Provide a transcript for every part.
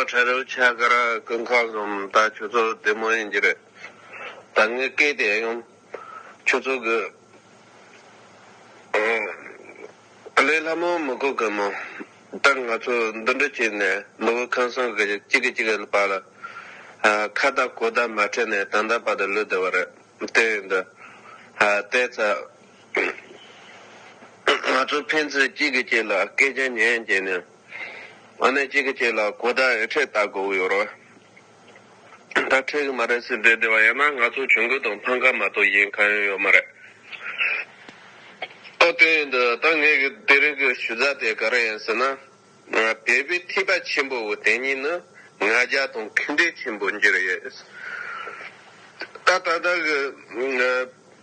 ཁྲ་རུ་ཆ་གར་ཀུན་མཁའ་གསུམ་ད་ཁྱོད་ཚོ་བདེ་མོ་ཡིན་གྱི་རེད། ད་ངའི་སྐད་དེ་ཡང་ཁྱོད་ཚོ་གི་ཀླད་ལྷ་མོ་མི་གོ་གི་མོ། ད་ང་ཚོ་འདུ་འདྲི་བྱས་ནས་ནོར་བུ་ཁང་བཟང་གི་གཅིག་གི་གཅིག་གི་བར་ལ་ཁ་བརྡ་གོ་བརྡ་མ་ཁྲིད་ནས་ད་ལྟ་བར་དུ་ལུས་བསྡད་པ་རེད། དེ་ཡིན་དུས་ལྟས་ཚ། ང་ཚོ་ཕན་ཚུན་གཅིག་གི་གཅིག་ལ་སྐད་ཆ་ཉན་རྗེས་ནས་ཨ་ནེ་གཅིག་གི་གཅིག་ལ་གོ་བརྡ་ཨེ་འཕྲད་བལྟ་དགོས་ཀྱི་ཡོད་རེད། ད་འཕྲད་ཀྱི་མ་རེད་ཟེར་བསྡད་བསྡད་པ་ཡིན་ན་ང་ཚོ་གྱོན་གོས་དང་ཕང་ཁ་མ་གཏོགས་གཞན་གང་ཡང་ཡོད་མ་རེད། ཨོ་དེ་ཡིན་དུས་ད་ངས་གི་དེ་རིང་གི་ཞུ་རྩ་དེ་ག་རེ་ཡིན་ཟེར་ན། བོད་པའི་ཐེག་པ་ཆེན་པོ་བོ་དེ་གཉིས་ནི་ང་རྒྱ་དང་ཁེངས་དྲེགས་ཆེན་པོ་འགྱུར་ཡོད། ད་ད་ལྟ་གི།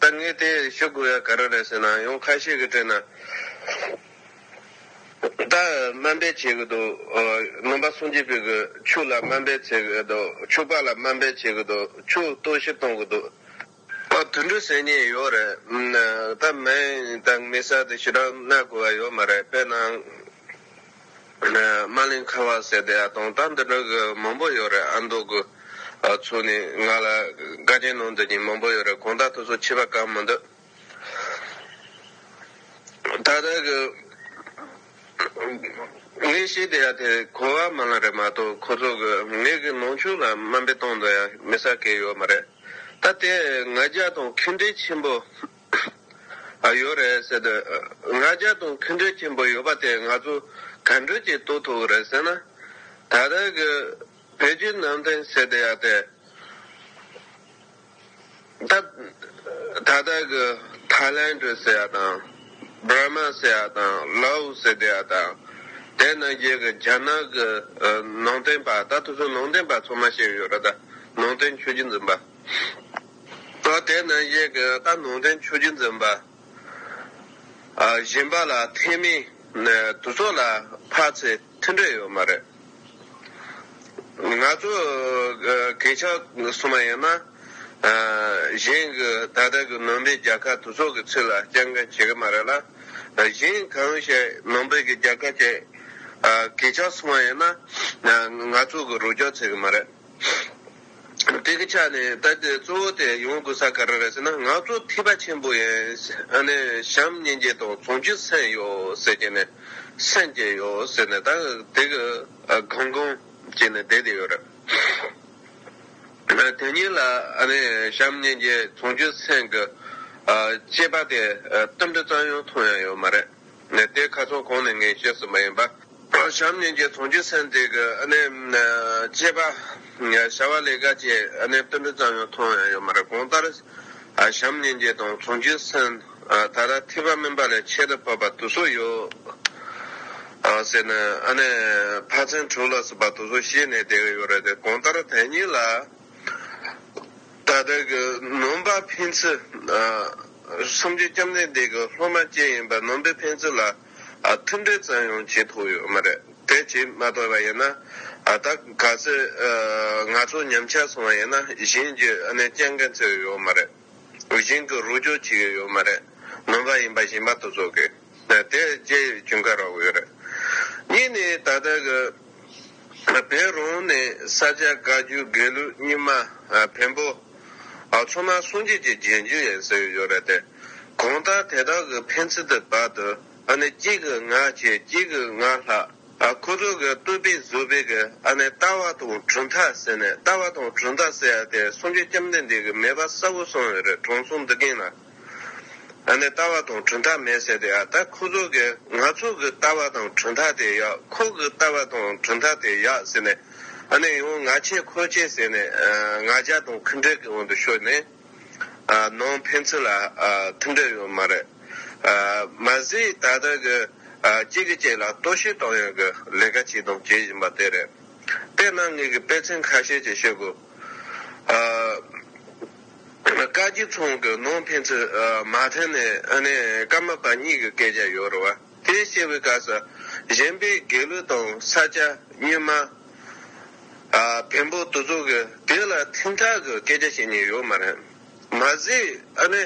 ད་ངས་དེ་ཤོད་དགོས་ཡ་ག་རེ་རེད་ཟེར་ན་ཡང་ཁ་ཤས་ཀྱི་དྲན་ན། ད་སྨན་པས་བྱེད་གི་འདུག་སྨན་པ་སུན་ཅི་པི་གི་ཆུ་ལ་སྨན་པས་བྱེད་གི་འདུག་ཆུ་པ་ལ་སྨན་པས་བྱེད་གི་འདུག་ཆུ་གཏོར་བཤིག་གཏོང་གི་འདུག། ཨ་དུད་འགྲོས་ཟེར་ཉེན་ཡོད་རེད། ད་སྨན་དང་མི་ས་དེ་ཞིག་རག་ན་དགོས་པ་ཡོད་མ་རེད་དཔེར་ན། རྨ་གླིང་ཁ་བ་ཟེར་ཏེ་གདོང་རྟགས་འདི་འདྲ་གི་མང་པོ་ཡོད་རེད་ཨ་མདོ་གི་ཚོ་ནས་ང་ལ་དགའ་རྐྱེན་གནང་འདོད་ཀྱིན་མང་པོ་ཡོད་རེད་གང་ལྟར་ཐུགས་གསོ་ཆེ་བ་ག་མི་འདུག་ད་ལྟ་གི་ངའི་ཤེས་བདེ་ཡ་དེ་གོ་བ་མ་ལང་རེད་མ་གཏོགས་ཁོ་ཚོ་གི་ངེད་ཀྱི་ནང་ཆོས་ལ་དམའ་འབེབས་གཏོང་འདོད་ཡ་མི་ས་ཁེལ་ཡོད་མ་རེད་ད་དེ་ང་རྒྱ་དང་ཁེ་འབྲེལ་ཆེན་པོ། ཨ། ཡོད་རེད་ཟེར་དུས་ང་རྒྱ་དང་མཐུན་འབྲེལ་ཆེན་པོ་ཡོད་པ་དེ་ང་ཚོ་ག་འདྲུད་ཀྱིས་རྟོགས་ཐུབ་རེད་ཟེར་ན། ད་ལྟ་གི་བོད་བརྒྱུད་ནང་བསྟན་ཟེར་དེ་ཡག་དེ། ད་ལྟ་གི་ཐའི་ལན་གྲུ་ཟེར་ཡག་དང། བྷར་མ་ཟེར་ཡག་དང་ལའོ་ཝུ་ཟེར་དེ་ཡག་དང། དེ་ནང་རྒྱལ་གི་རྒྱ་ནག་གི་ནང་བསྟན་པ་ད་ཐུག་སུ་ནང་བསྟན་པ་ཚོ་མ་ཤེས་ཡོད་རེད་ད་ནང་བསྟན་ཆོས་རྒྱུད་འཛིན་པ། སྐབས་དེ་ནི་གཡས་ཀྱི་རྟ་ནོར་འདྲེན་ཆོས་རྒྱུད་འཛིན་པ། གཞན་པ་ལ་ཐེག་དམན་དུ་ཚོགས་ལ་འཕགས་ཚེ་མཐུན་འབྲེལ་ཡོད་མ་རེད། ང་ཚོ་གེགས་ཆགས་སོང་བ་ཡིན་ན། གཞན་གྱི་ད་ལྟ་གྱི་ནང་པའི་རྒྱལ་ཁབ་དུ་ཚོགས་ཀྱི་ཚིག་ལ་སྤྱན་འདྲེན་བྱེད་ཀྱི་མ་རེད་ལ། གཞན་གང་ཞིག་ནང་པའི་རྒྱལ་ཁབ་ཅིག་གེགས་ཆགས་སོང་བ་ཡིན་ན། ང་ཚོ་གི་རོགས་སྐྱོར་བྱེད་ཀྱི་མ་རེད། དེ་གི་ཆ་ནས་ད་ལྟའི་གཙོ་བོ་དེ་ཡོང་དགོས་ས་ག་རེ་རེད་ཟེར་ན་ང་ཚོ་ཐིས་པ་ཆེན་པོ་ཡན་ཨ་ནེ་བྱམས་སྙན་རྒྱལ་དང་ཚོང་ཆུ་སེན་ཡོད་ཟེར་གྱི་ནས་སེན་རྒྱལ་ཡོད་ཟེར་ནས་ད་དེ་གི་གང་གང་བྱས་ནས་བསྡད་དེ་ཡོད་རེད། དེ་གཉིས་ལ་ཨ་ནེ་བྱམས་སྙན་རྒྱལ་ཚོང་ཆུ་སེན་གི་སྐྱེས་པ་དེ་གཏམ་དྲི་གཙང་ཡང་ཐོང་ཡ་ཡོད་མ་རེད། ནས་དེ་ཁ་ཚོང་གོང་ནས་ངས་བཤད་ཟིན་པ་ཡིན་པ། བྱམས་ཉིན་གྱི་ཚོང་ཆུ་ཚན་དེ་གི་ཨ་ནེ། སྐྱེས་པ། བྱ་བ་ལས་ཀ་བཅས་ཨ་ནེ་སྟོན་འབྲུ་ཙམ་ཡང་མཐོང་ཡང་ཡོད་མ་རེད་གོང་ལྟར། བྱམས་ཉིན་གྱི་དང་ཚོང་ཆུ་ཚན། ད་ལྟ་ཐིགས་པ་སྨིན་པ་ལས་ཁྱད་དུ་འཕགས་པ་དུ་སུ་ཡོད། ཟེར་ནས་ཨ་ནེ། ཕ་ཚན་དྲུག་ལ་སྲིད་པ་དུ་སུ་ཤེས་ནས་བསྡད་ཡོད་རེད་དེ་གོང་ལྟར་དེ་གཉིས་ལ། ད་ལྟར་གྱི་ནོམ་པ་འཕེན་ཚུལ། སུམ་བཅུའི་སྐྱབས་གནས་འདས་གྱི་སློབ་མ་བཅས་ཡིན་པ་ནོམ་པའི་འཕེན་ཚུལ་ལ་མཐུན་འབྲེལ་ཙམ་ཡང་བྱེད་ཐུབ་ཡོད་མ་རེད་དེ་བྱེད་མ་ཐུབ་པ་ཡིན་ན། ད་ག་ཚོད་ང་ཚོ་ཉམས་ཆག་སོང་བ་ཡིན་ན་གཞན་གྱི་གནས་སྐྱེལ་མཁན་ཚོས་ཡོད་མ་རེད། གཞན་གྱི་རོགས་སྐྱོར་བྱེད་ཡོད་མ་རེད། ནོམ་པ་ཡིན་པ་གཞན་པ་ཏུ་བཟོ་དགོས། དེ་རྗེས་ཀྱི་འགའ་རེ་འོད་རེད། གཉིས་ནི་ད་ལྟ་གི་བེ་རོང་ནས་ས་སྐྱ་བཀའ་བརྒྱུད་དགེ་ལུགས་རྙིང་མ་བེམ་པོ་ཚོ་མ་སོང་རྗེས་ཀྱི་རྗེས་འཇུག་ཡིན་ཟེར་ཡོད་རེད་དེ། གང་ལྟར་དེ་དག་གི་ཕན་ཚུན་དུ་བར་དུ་ཨ་ནི་གཅིག་གི་ང་བྱས་གཅིག་གི་ང་ལྷག་ཨ་ཁོ་ཚོ་གི་བསྟོད་པའི་བཟོད་པའི་གི་ཨ་ནི་ལྟ་བ་དང་གྲུབ་མཐའ་ཟེར་ནས་ལྟ་བ་དང་གྲུབ་མཐའ་ཟེར་ཡ་དེ་སུམ་ཅུ་སྐྱབས་འདི་འདི་གི་མེད་པ་གསལ་བོ་སོང་ཡོད་རེད་དྲང་སྲོང་འདི་གིན་ལ། ཨ་ནི་ལྟ་བ་དང་གྲུབ་མཐའ་མེད་ཟེར་དེ་ཨ་ད་ཁོ་ཚོ་གི་ང་ཚོ་གི་ལྟ་བ་དང་གྲུབ་མཐའ་དེ་ཡག་ཁོ་གི་ལྟ་བ་དང་གྲུབ་མཐའ་དེ་ཡག་ཟེར་ནས་ཨ་ནི་ཡང་ང་ཆེ་ཁོ་ཆེ་ཟེར་ནས་ང་རྒྱལ་དང་ཁུ་འབྲེལ་གི་འོག་ཏུ་ཤོར་ནས་ནང་ཕན་ཚུན་ལ་མཐུན་འབྲེལ་ཡོད་མ་རེད། མ་ཟད་ད་ལྟ་གི་གཅིག་གིས་གཅིག་ལ་གཏོར་བཤིག་གཏོང་ཡོང་གི་ལས་ཀ་བྱས་དང་བྱེད་བཞིན་པ་དེ་རེད། དེས་ན་ངེད་ཀྱི་དཔེ་མཚོན་ཁ་ཤས་ཀྱིས་ཤེས་དགོས། བཀའ་སྐྱིད་ཚང་གི་ནང་ཕན་ཚུན་མ་མཐུན་ནས་ཨ་ནེ་སྐར་མ་པ་གཉིས་ཀྱི་སྐད་ཆ་ཡོད་རེད་བ། དེ་བཤད་པའི་སྐབས་སུ་གཞན་པའི་དགེ་བློ་དང་ས་སྐྱ་སྙུན་མ། བེམ་པོ་དུ་ཚོགས་ཀྱི་དེ་ལ་ཐིང་ཐག་གི་སྐད་ཆ་བཤད་ཉེན་ཡོད་མ་རེད། མ་ཟད་ཨ་ནེ་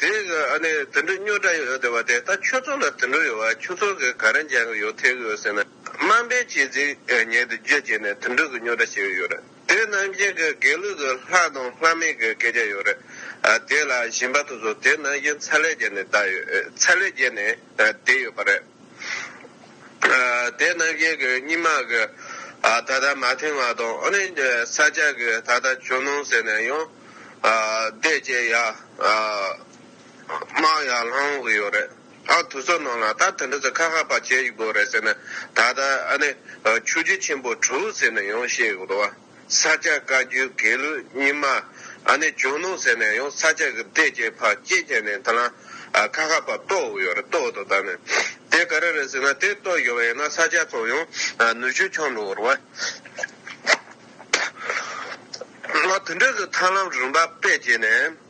དེ་གི་ཨ་ནེ་དུད་འགྲོ་སྨྱོ་དྲགས་ཡོད་དེ་བ་དེ་ལྟ་ཁྱོད་ཚོ་ལ་དུད་འགྲོ་ཡོད་བ་ཁྱོད་ཚོ་གི་ག་རེ་འཇགས་ཀྱི་ཡོད་ཐལ་གྱི་ཡོད་ཟེར་ན་དམའ་འབེབས་བྱེད་རྫིག་ཉེས་དུ་རྒྱུ་བྱས་ནས་དུད་འགྲོ་གི་སྨྱོ་དྲགས་བྱེད་ཀྱི་ཡོད་རེད། དེ་རྣམས་བཞིན་གྱི་དགེ་ལུགས་སུ་ལྷ་དང་ལྷ་མིན་གྱི་སྐད་ཆ་ཡོད་རེད། དེ་ལ་ཞིང་པ་སོ་སོ་དེ་རྣམས་བཞིན་ཚ་ལས་རྒྱལ་ནས་བསྡད་ཡོད། ཚ་ལས་རྒྱལ་ནས་བསྡད་ཡོད་པ་རེད། དེ་རྣམས་བཞིན་གྱི་སྙིང་མ་གི་ད་ལྟ་མ་མཐུན་བ་དང་ཨ་རིའི་ས་ཆ་གི་ད་ལྟ་ཇོ་ནང་ཟེར་ནས་ཡང་བསྡད་ཅེས་ཡར་དམག་ཡར་ལྷང་གི་ཡོད་རེད། ཨག་དུ་ཚོགས་ནང་ལ་ད་དེ་འདྲ་ཚོ་ཁ་ཁ་བ་བྱེད་དགོས་རེད་ཟེར་ན་ད་ལྟ་ཨ་ནི་ཆུ་རྒྱུད་ཆེན་པོ་དྲུག་ཟེར་ནས་ཡོང་བཤད་དགོས་རེད་བ་ས་སྐྱ་བཀའ་རྒྱུད་དགེ་ལུགས་རྙིང་མ་ཨ་ནི་ཇོ་ནང་ཟེར་ནས་ཡང་ས་སྐྱ་གི་སྡེ་བརྒྱད་ཕར་བསྐྱེལ་བྱས་ནས་ད་ལ་ཁ་ཁ་བ་གཏོགས་དགོས་ཡོད་རེད་གཏོགས་འདུག་ད་ནི་དེ་ག་རེ་རེད་ཟེར་ན་དེ་གཏོགས་དགོས་པ་ཡིན་ན་ས་སྐྱ་ཚོ་ཡང་ནུ་ཆུ་འཁྱོངས་འགྲོ་དགོས་རེད་བ་ཨ་དེ་འདྲ་ཚོ་ཐར་ལམ་རིམ་པ་སྤེལ་བྱས་ནས།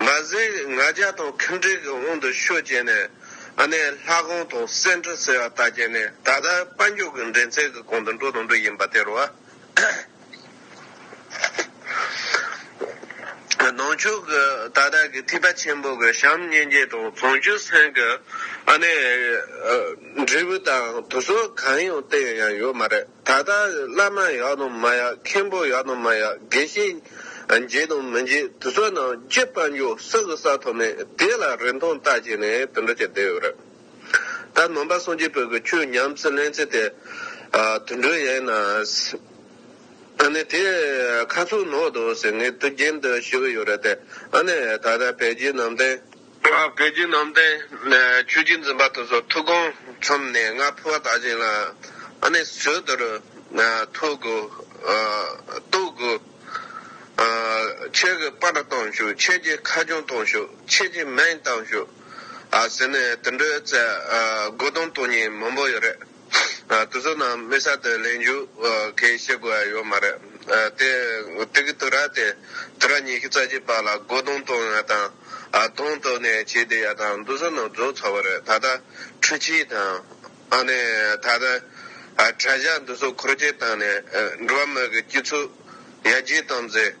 མ་ཟད་ང་རྒྱལ་དང་ཁེངས་དྲེགས་ཀྱི་དབང་དུ་ཤུགས་བསྐྱེད་ནས་ཨ་ནེ་ལྷ་ཁང་དང་གསེར་ཁྲི་ཟེར་བ་དག་བརྒྱན་ནས་ད་ལྟ་དཔལ་འབྱོར་གྱི་འགྲན་རྩེད་ཀྱི་གོང་དུ་འགྲོ་དང་འགྲོ་བཞིན་པ་དེ་རུ། ནང་ཆོས་ཀྱི་ད་ལྟ་གྱི་ཐིགས་པ་ཆེན་པོ་གྱི་བྱམས་སྙིང་རྗེ་དང་བཟང་སྤྱོད་སེང་གི་ཨ་ནེ་འབྲས་བུ་དང་དུ་སོལ་གང་ཡང་བསྟན་ཡང་ཡོད་མ་རེད། ད་ལྟ་བླ་མ་ཡག་དང་མ་ཡག་མཁན་པོ་ཡག་དང་མ་ཡག་དགེ་བཤེས་འཇིགས་དང་མི་འཇིགས་དུ་བསོད་ནམས་ཅི་ལྟ་འཇུག་ས་གི་ས་ཐོབ་ནས་དེ་ལ་རིན་ཐང་བཏགས་བྱས་ནས་དུད་འགྲོ་བྱེད་བསྡད་ཡོད་རེད། ད་ནང་པ་སངས་རྒྱས་བོད་ཀྱི་ཆོས་ཉམས་སུ་ལེན་ཚེ་དེ་དུད་འགྲོ་ཡིན་ན། ཨ་ནི་དེ་ཁ་ཚུགས་ནོར་འདུག་ཟེར་ངེས་དུ་རྒྱན་དུ་ཞུ་གི་ཡོད་རེད་དེ་ཨ་ནི་ད་ལྟ་བལ་རྗེས་ནང་བསྟན། བོད་བརྒྱུད་ནང་བསྟན་ཆོས་རྒྱུད་འཛིན་པ་དེ་ཚོ་ཐུགས་དགོངས་འཆམ་ནས་ང་ཕུ་བ་དག་ཅིག་ལ་ཨ་ནེ་བྱོལ་དུ་རུ་ཐོ་དགོས་ལྟོ་དགོས་ཁྱེད་ཀྱི་པར་བཏང་ཤུགས་ཁྱེད་ཀྱི་ཁ་སྐྱོང་བཏང་ཤུགས་ཁྱེད་ཀྱི་མན་བཏང་ཤུགས་ཟེར་ནས་དུད་འགྲོའི་རྩལ་དགོས་དོན་དོན་སྙིང་མང་པོ་ཡོད་རེད། དུ་བཟོ་ན་དམིགས་བསལ་དུ་ལས་མཇུག་གི་བྱེད་དགོས་ཡ་ཡོད་མ་རེད། དེ་དུས་ཀྱི་དུག་ར་དེ་དུག་ར་ཉི་ཤུ་རྩ་གཅིག་པ་ལ་སྒོ་རྡུང་བཏོན་ཡ་དང་རྡུང་བཏོན་ནས་བྱེད་བསྡད་ཡ་དང་དུ་བཟོ་ན་བཟོ་ཚར་བ་རེད་ད་ལྟ་འཕྲུལ་ཆས་དང། ད་ལྟ་དྲ་བཞག་འདུ་བཟོ་འཁོར་རྒྱས་བཏང་ནས་འགྲོ་བ་མི་གི་སྐྱིད་ཚུགས་ཡར་རྒྱས་བཏང་ཚེ།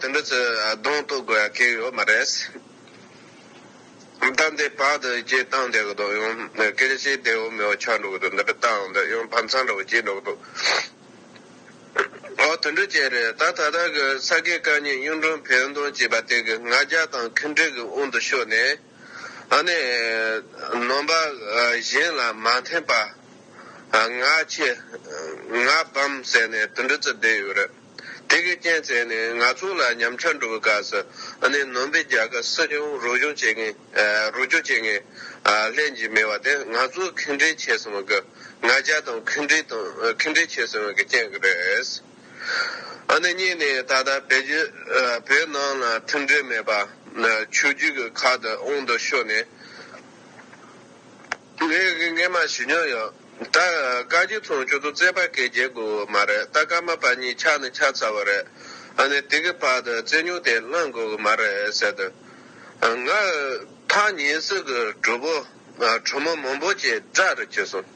དེ་འདྲ་ཚོས་གདོང་གཏུག་དགོས་ཡ་ཁེགས་ཡོད་མ་རེད། ད་འདི་བར་དུ་སྐྱེལ་བཏང་བསྡད་གི་འདུག་ཡང་སྐད་ཆ་ཤེས་བདེ་བོ་མེད་པ་ཆགས་འགྲོ་གི་འདུག་འདི་འདྲ་བཏང་འདི་ཡང་ཕམ་ཚང་འདྲ་བོ་སྐྱེས་འགྲོ་གི་འདུག། འོ་དེ་འདྲ་ཅན་རེད་ད་ད་ལྟ་གི་ས་དགེ་བཀའ་རྙིང་གཡུང་དྲུང་བོན་སྟོན་ཅེས་པ་དེ་གི་ང་རྒྱལ་དང་ཁེངས་དྲེགས་ཀྱི་དབུང་དུ་ཤོར་ནས་ཨ་ནི་ནོམ་པ་གཞན་ལ་མ་འཐེན་པ་ང་ཁྱི་ང་བམ་ཟེར་ནས་དེ་འདྲ་ཚོས་བསྡད་ཡོད་རེད། དེ་གའི་རྐྱེན་བཙལ་ནས་ང་ཚོ་ལ་ཉམས་ཆག་འགྲོ་བའི་སྐབས་སུ་ཨ་ནེ་ནོན་པའི་རྒྱལ་ཁབ་སྲིད་སྐྱོང་རོགས་སྐྱོར་བྱེད་མཁན་རོགས་སྐྱོར་བྱེད་མཁན་ལྷན་ཅིག་མེད་པ་དེ་ང་ཚོས་ཁེངས་དྲེགས་བྱས་ཟིན་པ་གི་ང་རྒྱལ་དང་ཁེངས་དྲེགས་དང་ཁེངས་དྲེགས་བྱས་ཟིན་པ་གི་རྐྱེན་གྱིས་རེད། ཨ་ནེ་གཉིས་ནི་ད་ལྟ་བེད་སྤྱོད་བོད་ནང་ལ་མཐུན་འབྲེལ་མེད་པ་ཆོས་བརྒྱུད་ཀྱི་ཁག་ཏུ་ཨོང་དུ་ཤོར་ནས། ངས་སྔས་མ་ཞུས་མྱོང་ཡོད། ད་བཀའ་སྐྱིད་ཚང་ཁྱོད་ཚོ་རྩེད་པ་སྐད་རྒྱལ་དགོས་འོས་མ་རེད་ད་སྐར་མ་པ་གཉིས་ཆགས་ནི་ཆགས་ཚར་བ་རེད་ཨ་ནི་དེ་གི་བར་དུ་རྩེད་ཉོག་དེ་བསླངས་དགོས་གི་མ་རེད་ཟེར་དུས། ང། ཐག་ཉེ་སི་གི་གྲུ་བོ། གྲུ་མོ་མང་པོ་བཅས་སྒྲ་རུ་བྱས་སོང།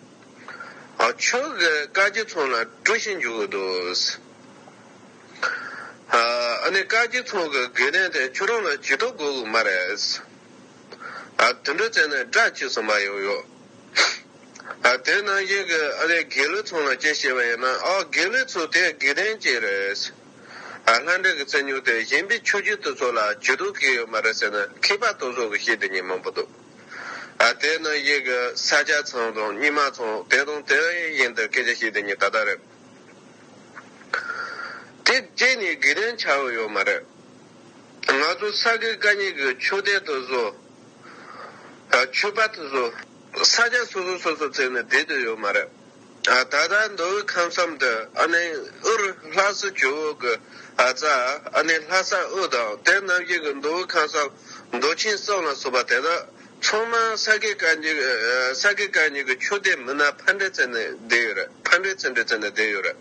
ཁྱོད་ཀྱིས་བཀའ་སྐྱིད་ཚང་ལ་དཀྲུགས་ཤིང་རྒྱུག་གི་འདུག། ཨ་ནི་བཀའ་སྐྱིད་ཚང་གི་དགེ་ལྡན་དེ་ཁྱོད་རང་ལ་ཇུས་གཏོགས་དགོས་གི་མ་རེད། ཨ། དུད་འགྲོ་བཙལ་ན་སྒྲ་བཅས་སུ་མ་ཡོང་ཡོད། ཨ། དེ་ནང་བཞིན་གྱི་ཨ་རའི་དགེ་ལུགས་ཚང་ལ་སྐྱེ་ཤེས་པ་ཡིན་ན་ཨོ་དགེ་ལུགས་ཚོ་དེ་དགེ་ལྡན་གཅིག་རེད། ཨ། ལྷ་འདྲེ་གི་རྩལ་ཉུང་སྟེ་གཞན་པའི་ཆོས་བརྒྱུད་དུ་ཚོ་ལ་བྱུས་གཏུག་གི་ཡོད་མ་རེད་ཟེར་ན་མཁས་པ་དོལ་ཚོ་གི་ཤེས་དེ་ཉིད་མང་པོ་འདུག་ཨ། དེ་ནང་བཞིན་གྱི་ས་སྐྱ་ཚང་དང་རྙིང་མ་ཚང་དེ་དང་དེ་བཞིན་དུ་སྐད་ཆ་ཤེས་དེ་ཉིད་ད་ལྟ་རེད། དེ་བཅས་ནི་དགེ་ལྡན་ཆགས་ཡོད་མ་རེད། ང་ཚོ་ས་དགེ་བཀའ་རྙིང་གི་ཆོས་སྡེ་དུ་བཟོ། ཆོས་པ་དུ་བཟོ། ས་ཆ་སོ་སོ་སོ་སོ་བརྩིགས་ནས་སྡེ་དུ་ཡོད་མ་རེད། ད་ལྟ་མདོ་དབུས་ཁམས་གསུམ་དུ་ཨ་ནི་ཨུར་ལྷ་སྲི་ཇོ་བོ་དགུ། རྩ་ཨ་ནི་ལྷ་ས་ཨུ་དང་དེ་རྣམ་བཞི་གི་མདོ་དབུས་ཁམས་གསུམ་མདོ་ཆེན་གསུམ་ལ་སོགས་པ་དེ་དག་ཚང་མ་ས་དགེ་བཀའ་རྙིང་གི་ཆོས་སྡེ་མི་སྣ་ཕར་འདྲེ་བརྩིགས་ནས་སྡེ་ཡོད་རེད།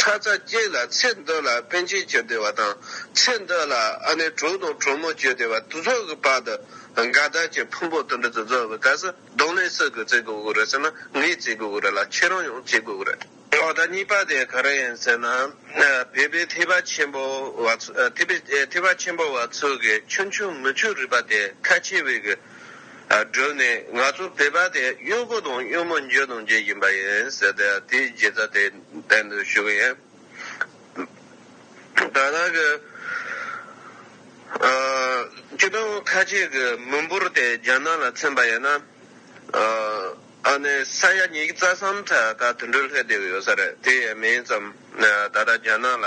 ཁྲ་ཚ་བརྒྱད་ལ་ཚེ་འདོད་ལ་དཔོན་ཆེན་བཅོས་བདེ་བ་དང་ཚེ་འདོད་ལ་ཨ་ནེ་དྲུག་དང་གྲོགས་མོ་བཅོས་བདེ་བ་དུ་ཚོགས་ཀྱི་བར་དུ་དགའ་དར་གྱི་ཕུང་པོ་དུ་འདི་ཚོ་རྫོགས་པའི་སྐབས་སུ་གདོང་ལེན་སུ་གིས་བརྩི་དགོས་ཀྱི་རེད་ཟེར་ན་ངས་བརྩི་དགོས་ཀྱི་རེད་ལ་ཁྱེད་རང་ཡང་བརྩི་དགོས་ཀྱི་རེད། ཐོག་མཐའ་གཉིས་པ་དེ་ག་རེ་ཡིན་ཟེར་ན། བོད་པའི་ཐེག་པ་ཆེན་པོ་བ་ཐེག་པ་ཆེན་པོ་བ་ཚོ་གི་ཆུང་ཆུང་མི་ཆོས་རིག་པ་དེ་ཁ་ཆེ་བས་གི་བསྒྲུབས་ནས་ང་ཚོ་བོད་པ་དེ་གཡོག་པོ་དང་གཡོག་མོ་འཇོལ་དང་འཇོལ་བཞིན་པ་ཡིན་ཟེར་དེ་རྗེས་རྩ་དེ། བསྟན་དུ་བཞུགས་ཡིན། ད་ལྟ་གི་སྐྱིད་སྡོང་ཁ་ཆེ་གི་མི་འབོར་དེ་རྒྱ་ནག་ལ་འཚེམ་པ་ཡིན་ན། ཨ་ནི་ས་ཡ་ཉིས་བརྩ་གསུམ་ཁྲ་ད་དུད་འགྲོའི་ལྷས་བསྡད་ཀྱི་ཡོད་ས་རེད་དེ་ཡས་མིན་ཙམ་ད་ལྟ་རྒྱ་ནག་ལ།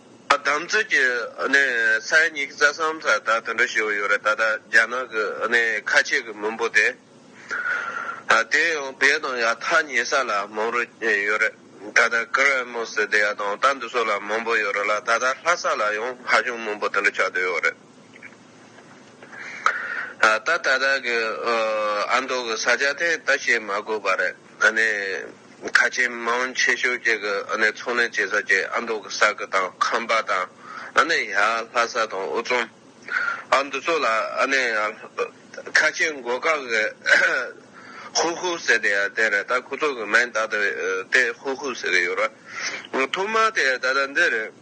བདམས་ཚོད་ཀྱི་གནས་ཚད་གཉིས་ཀྱི་རྩ་སམ་ས་བདག་དུད་འགྲོ་ཞེས་པ་ཡོད་རེད་ད་ལྟ་རྒྱ་ནག་གི་གནས་ཁ་ཆེ་གི་མི་འབོར་དེ་དེ་ཡང་བལ་དང་ཡག་ཐ་ཉེ་ས་ལ་མང་རུ་ཡོད་རེད་ད་ལྟ་ཀི་རེ་མོ་སི་དེ་ཡ་དང་རྟ་འདི་སོགས་ལ་མང་པོ་ཡོད་རེད་ལ་ད་ལྟ་ལྷ་ས་ལ་ཡང་ཧ་ཅང་མང་པོ་དུད་འགྲོ་ཆགས་དུས་ཡོད་རེད་ད་ད་ལྟ་གི་ཨ་མདོ་གི་ས་ཆ་དེ་ད་བཤད་མ་དགོས་པ་རེད། ཁ་ཆེ་མང་ཆེ་ཤོས་བཅས་ཀྱི་ཚོང་ལས་བྱེད་ས་བཅས་ཨ་མདོ་གི་ས་ཁུལ་དང་ཁམས་པ་དང་ཡ་ལྷ་ས་དང་ཨུ་རྩོམ་འདི་ཚོ་ལ་ཁ་ཆེ་མགོ་བཀག་གི་ཧུ་ཧུ་ཟེར་དེ་ཡང་དེ་རེད་ད་ཁོ་ཚོ་གི་མིང་བཏགས་དེ་ཧུ་ཧུ་ཟེར་གྱི་ཡོད་རེད་ཐོག་མར་དེ་ད་ལྟ་འདི་རེད།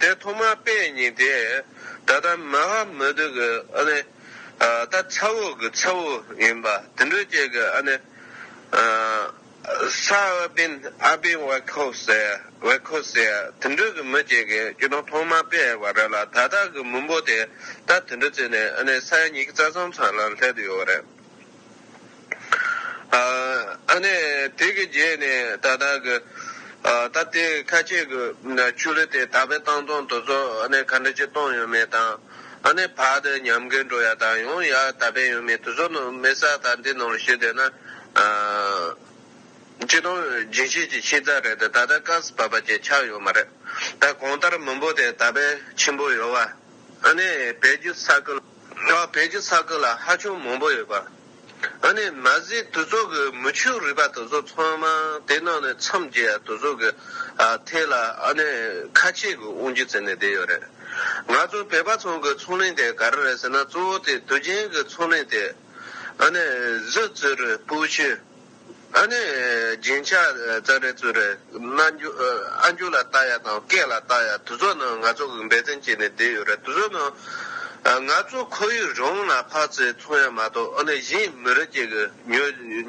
དེ་ཐོག་མར་དཔེ་རྙིང་དེ་ད་ལྟ་མ་ཧ་མུ་ཏུ་གི་ཨ་ནི་ད་ཚ་བོ་གི་ཚ་བོ་ཡིན་པ་དེ་འདྲུ་བཅས་གི་ཨ་ནི་ས་ཨ་པིན་ཨ་པིན་ཝེ་ཁོ་སེ་ཝེ་ཁོ་སེ་དེ་འདྲུ་གི་མི་བཅས་གི་སྐྱུ་དོང་ཐོག་མར་དཔེ་བ་རེད་ལ་ད་ལྟ་གི་མི་འབོ་དེ་ད་དེ་འདྲུ་བརྩིས་ནས་ཨ་ནི་ས་ཡ་ཉིས་ཀི་རྩ་གསུམ་ཚང་ལ་ལྷད་དུ་ཡོད་བ་རེད། ཨ་ནི་དེ་གི་རྗེས་ནས་ད་ལྟ་གི་ད་ལྟའི་ཁ་ཆེ་གི་ཆུ་ལི་དེ་ད་པའི་ཏང་ཙུང་དོ་ཚོགས་ཨ་ནི་ག་འདྲ་ཅིག་གཏོང་ཡོད་མེད་དང་ཨ་ནི་བར་དུ་ཉམས་རྒུད་འགྲོ་ཡ་དང་ཡོང་ཡ་ད་པའི་ཡོད་མེད་དུ་ཚོགས་ནང་མི་ས་ད་འདི་ནང་ལ་ཞུས་དོན་ན་སྤྱི་དོན་རྒྱུན་ཤེས་ཀྱི་ཤེས་ཚ་རེད་ད་ད་ཀ་སི་བ་བ་ཅིག་ཆགས་ཡོད་མ་རེད་ད་གོང་ལྟར་མི་འབོ་དེ་ད་པའི་ཆེན་པོ་ཡོད་བ་ཨ་ནི་བལ་རྒྱུ་ས་ཁུལ། ལག་བེད་ཀྱི་ཚ་ཁུ་ལ་ཧ་ཅུང་མང་པོ་ཡོད་པ། ཨ་ནི་མ་ཟི་དུ་ཚོགས་ཀྱི་མུ་ཆུ་རུས་པ་དུ་ཚོགས་ཚང་མ་དེ་ནང་ནས་མཚམས་བརྒྱད་ཡ་དུ་ཚོགས་ཀྱི་ཐད་ལ་ཨ་ནི་ཁ་ཆེ་གི་དབང་རྒྱུ་བརྩི་ནས་བསྡད་ཡོད་རེད། ང་ཚོ་བོད་པ་ཚང་གི་ཚོང་གླིང་དེ་ག་རེ་རེད་ཟེར་ན་གཙོ་བོ་དེ་དུས་ཆེན་གི་ཚོང་གླིང་དེ། ཨ་ནི་གཟི་བཙུར་སྤོས་ཆུ། ཨ་ནི། རྒྱན་ཆ་ཙག་རེད་ཙུག་རེད། ཨ་མཆོག་ལ་བལྟ་ཡ་དང་སྐད་ལ་བལྟ་ཡ་དུ་ཚོགས་ནང་ང་ཚོ་འབད་བརྩོན་བྱས་ནས་བསྡད་ཡོད་རེད་དུ་ཚོགས་ནང་ང་ཚོ་ཁོར་ཡུག་རང་ལ་ཕག་ཚེ་འཚོང་ཡ་མ་གཏོགས་ཨ་ནི་གཞན་མི་རིགས་ཅིག་གི་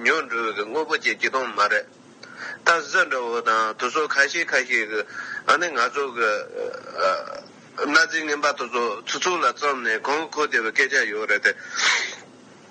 ཉོ་འགྲོ་བའི་དངོས་པོ་བྱེད་ཀྱི་དང་མ་རེད། ད་གཟི་འདྲ་བོ་དང་དུ་ཚོགས་ཁ་ཤས་ཁ་ཤས་གི་ཨ་ནི་ང་ཚོ་གི་གནའ་རྫས་རྔན་པ་དུ་ཚོགས་ཚུ་ཚོགས་ལ་བརྩམས་ནས་གང་ཁོ་བདེ་བའི་སྐད་ཆ་ཡོད་རེད་དེ།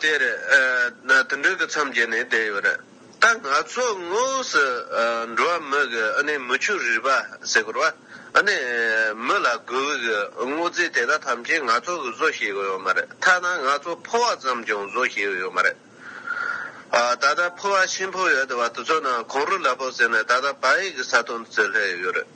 དེར་དུད་འགྲོའི་གི་མཚམས་བརྒྱད་ནས་བསྡད་ཡོད་རེད། ད་ང་ཚོ་དངོས་སུ་འགྲོ་བ་མི་གི་ཨ་ནེ་མི་ཆུ་རིས་པ་ཟེར་གོ་ར་བ་ཨ་ནེ་མི་ལ་དགོས་བི་གི་དངོས་རྫས་དེ་དག་ཐམས་ཅད་ང་ཚོ་གི་བཟོ་ཤེས་གི་ཡོད་མ་རེད་ཐ་ན་ང་ཚོ་ཕོ་བ་ཙམ་ཀྱང་བཟོ་ཤེས་གི་ཡོད་མ་རེད། ད་ལྟ་ཕོ་བ་ཆེན་པོ་ཡོད་བ་དེ་ཚོ་ནང་གོང་རུ་ལ་བོ་ཟེར་ནས་ད་ལྟ་བ་ཡིག་གི་ས་དོན་བརྩི་སླད་ཡོད་རེད།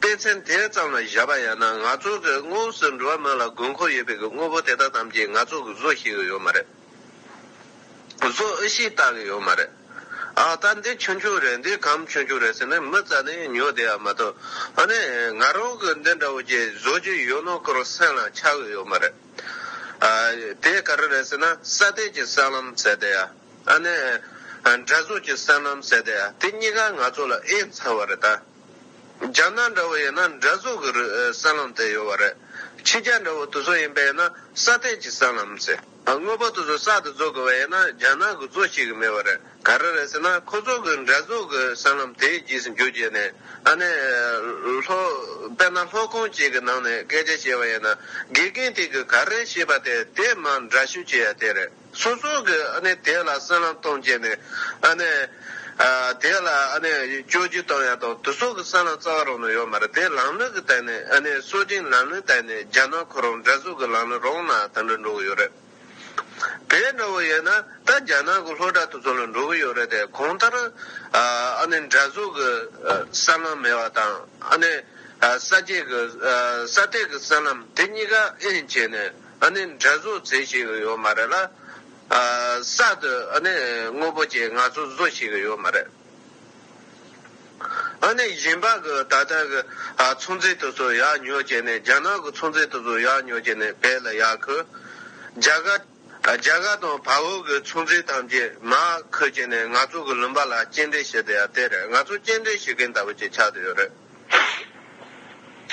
དཔེ་ཚན་དེ་ཙམ་ལ་བཞག་པ་ཡང་ན་ང་ཚོ་གི་དངོས་སུ་འགྲོ་བ་མི་ལ་དགོས་མཁོ་ཡོད་པའི་གི་དངོས་པོ་དེ་དག་ཙམ་གྱིས་ང་ཚོ་གི་བཟོ་ཤེས་གི་ཡོད་མ་རེད། བཟོ་ཨི་ཤེས་བལྟ་གི་ཡོད་མ་རེད། ཨ་ད་འདི་ཆུང་ཆུང་རེད་འདི་གམ་ཆུང་ཆུང་རེད་ཟེར་ནས་མི་རྩ་ནས་ཉོ་བསྡད་ཡ་མ་གཏོགས་ཨ་ནི་ང་རང་གི་འདི་འདྲ་བོ་ཅིག་བཟོ་རྒྱུ་ཡོད་ནོ་སྐོར་སེམས་ལ་འཆར་གི་ཡོད་མ་རེད། ཨ་དེ་ག་རེ་རེད་ཟེར་ན་ས་དེད་ཀྱི་སྲང་ལམ་ཟེར་བསྡད་ཡ་ཨ་ནི། དགྲ་ཟུག་ཀྱི་སྲང་ལམ་ཟེར་བསྡད་ཡ་དེ་གཉིས་ཀ་ང་ཚོ་ལ་ཨེ་མཚར་བ་རེད་ད། རྒྱ་ནག་འདྲ་བོ་ཡིན་ན་འདྲ་བཟོ་གི་རུ་སྲན་ལམ་དེ་ཡོད་པ་རེད། ཕྱི་རྒྱ་འདྲ་བོ་དུ་བཟོ་ཡིན་པ་ཡིན་ན་ས་སྟེང་གི་སྲན་ལམ་ཟེར། དངོས་པོ་དུ་བཟོ་ས་དུ་བཟོ་དགོས་པ་ཡིན་ན་རྒྱ་ནག་གི་བཟོ་ཤེས་གི་མེད་པ་རེད། ག་རེ་རེད་ཟེར་ན་ཁོ་ཚོ་གི་འདྲ་བཟོ་གི་སྲན་ལམ་དེའི་རྗེས་སུ་འཇུག་བྱས་ནས་ཨ་ནེ། ལྷོ། དཔེར་ན་ལྷོ་ཁོངས་གཅིག་གི་ནང་ནས་སྐད་ཆ་བཤད་པ་ཡིན་ན་དགེ་རྒན་དེ་གི་ག་རེ་བཤད་པ་དེ་དེ་མ་འདྲ་ཤོས་བྱེད་ཡ་དེ་རེད། སོ་སོ་གིས་དེ་ལ་སེམས་ལམ་སྟོང་བྱས་ནས། དེ་ལ་སྐྱོན་ཅི་གཏོང་ཡ་དང་དུ་སོ་གི་སེམས་ལམ་རྩ་བ་རང་ནས་ཡོད་མ་རེད་དེ་ལམ་ལུགས་ཀྱི་སྟེང་ནས་སོ་སྦྱིན་ལམ་ལུགས་སྟེང་ནས་རྒྱ་ནག་ཁོ་རང་འདྲ་བཟོ་གི་ལམ་ལུགས་རང་ན་དེ་འདྲ་འགྲོ་གི་ཡོད་རེད། དེ་འདྲ་བོ་ཡིན་ན་ད་རྒྱ་ནག་གི་ལྷོ་ད་དུ་སོ་ལ་འགྲོ་གི་ཡོད་རེད་དེ་གང་ལྟར་འདྲ་བཟོ་གི་སེམས་ལམ་མེད་པ་དང་ས་སྐྱེས་ཀྱི་ས་སྟེགས་ཀྱི་སེམས་ལམ་དེ་གཉིས་ཀ་དབྱེ་འབྱེད་ནས། ཨ་ནི་འདྲ་བཟོ་རྩེ་ཞིག་ཡོད་མ་རེད་ལ། གསར་དུ་ཨ་ནི་དངོས་པོ་ཅིག་ང་ཚོ་བཟོ་ཞིག་ཡོད་མ་རེད། ཨ་ནི་གཞན་པ་གི་ད་ལྟ་གི་ཚོང་རྫས་དེ་ཚོ་ཡག་ཉོ་བྱས་ནས་རྒྱ་ནག་གི་ཚོང་རྫས་དེ་ཚོ་ཡག་ཉོ་བྱས་ནས་བེད་ལ་ཡག་ཁུ། རྒྱ་གར། རྒྱ་གར་དང་བལ་བོ་གི་ཚོང་རྫས་ཐམས་ཅད་མར་ཁུ་བྱས་ནས་ང་ཚོ་གི་ལུང་པ་ལ་སྐྱེལ་འདྲེན་བྱེད་དེ་ཡ་དེ་རེད་ང་ཚོ་སྐྱེལ་འདྲེན་བྱེད་མཁན་ལྟ་བུ་ཅིག་ཆགས་དེ་ཡོད་རེད།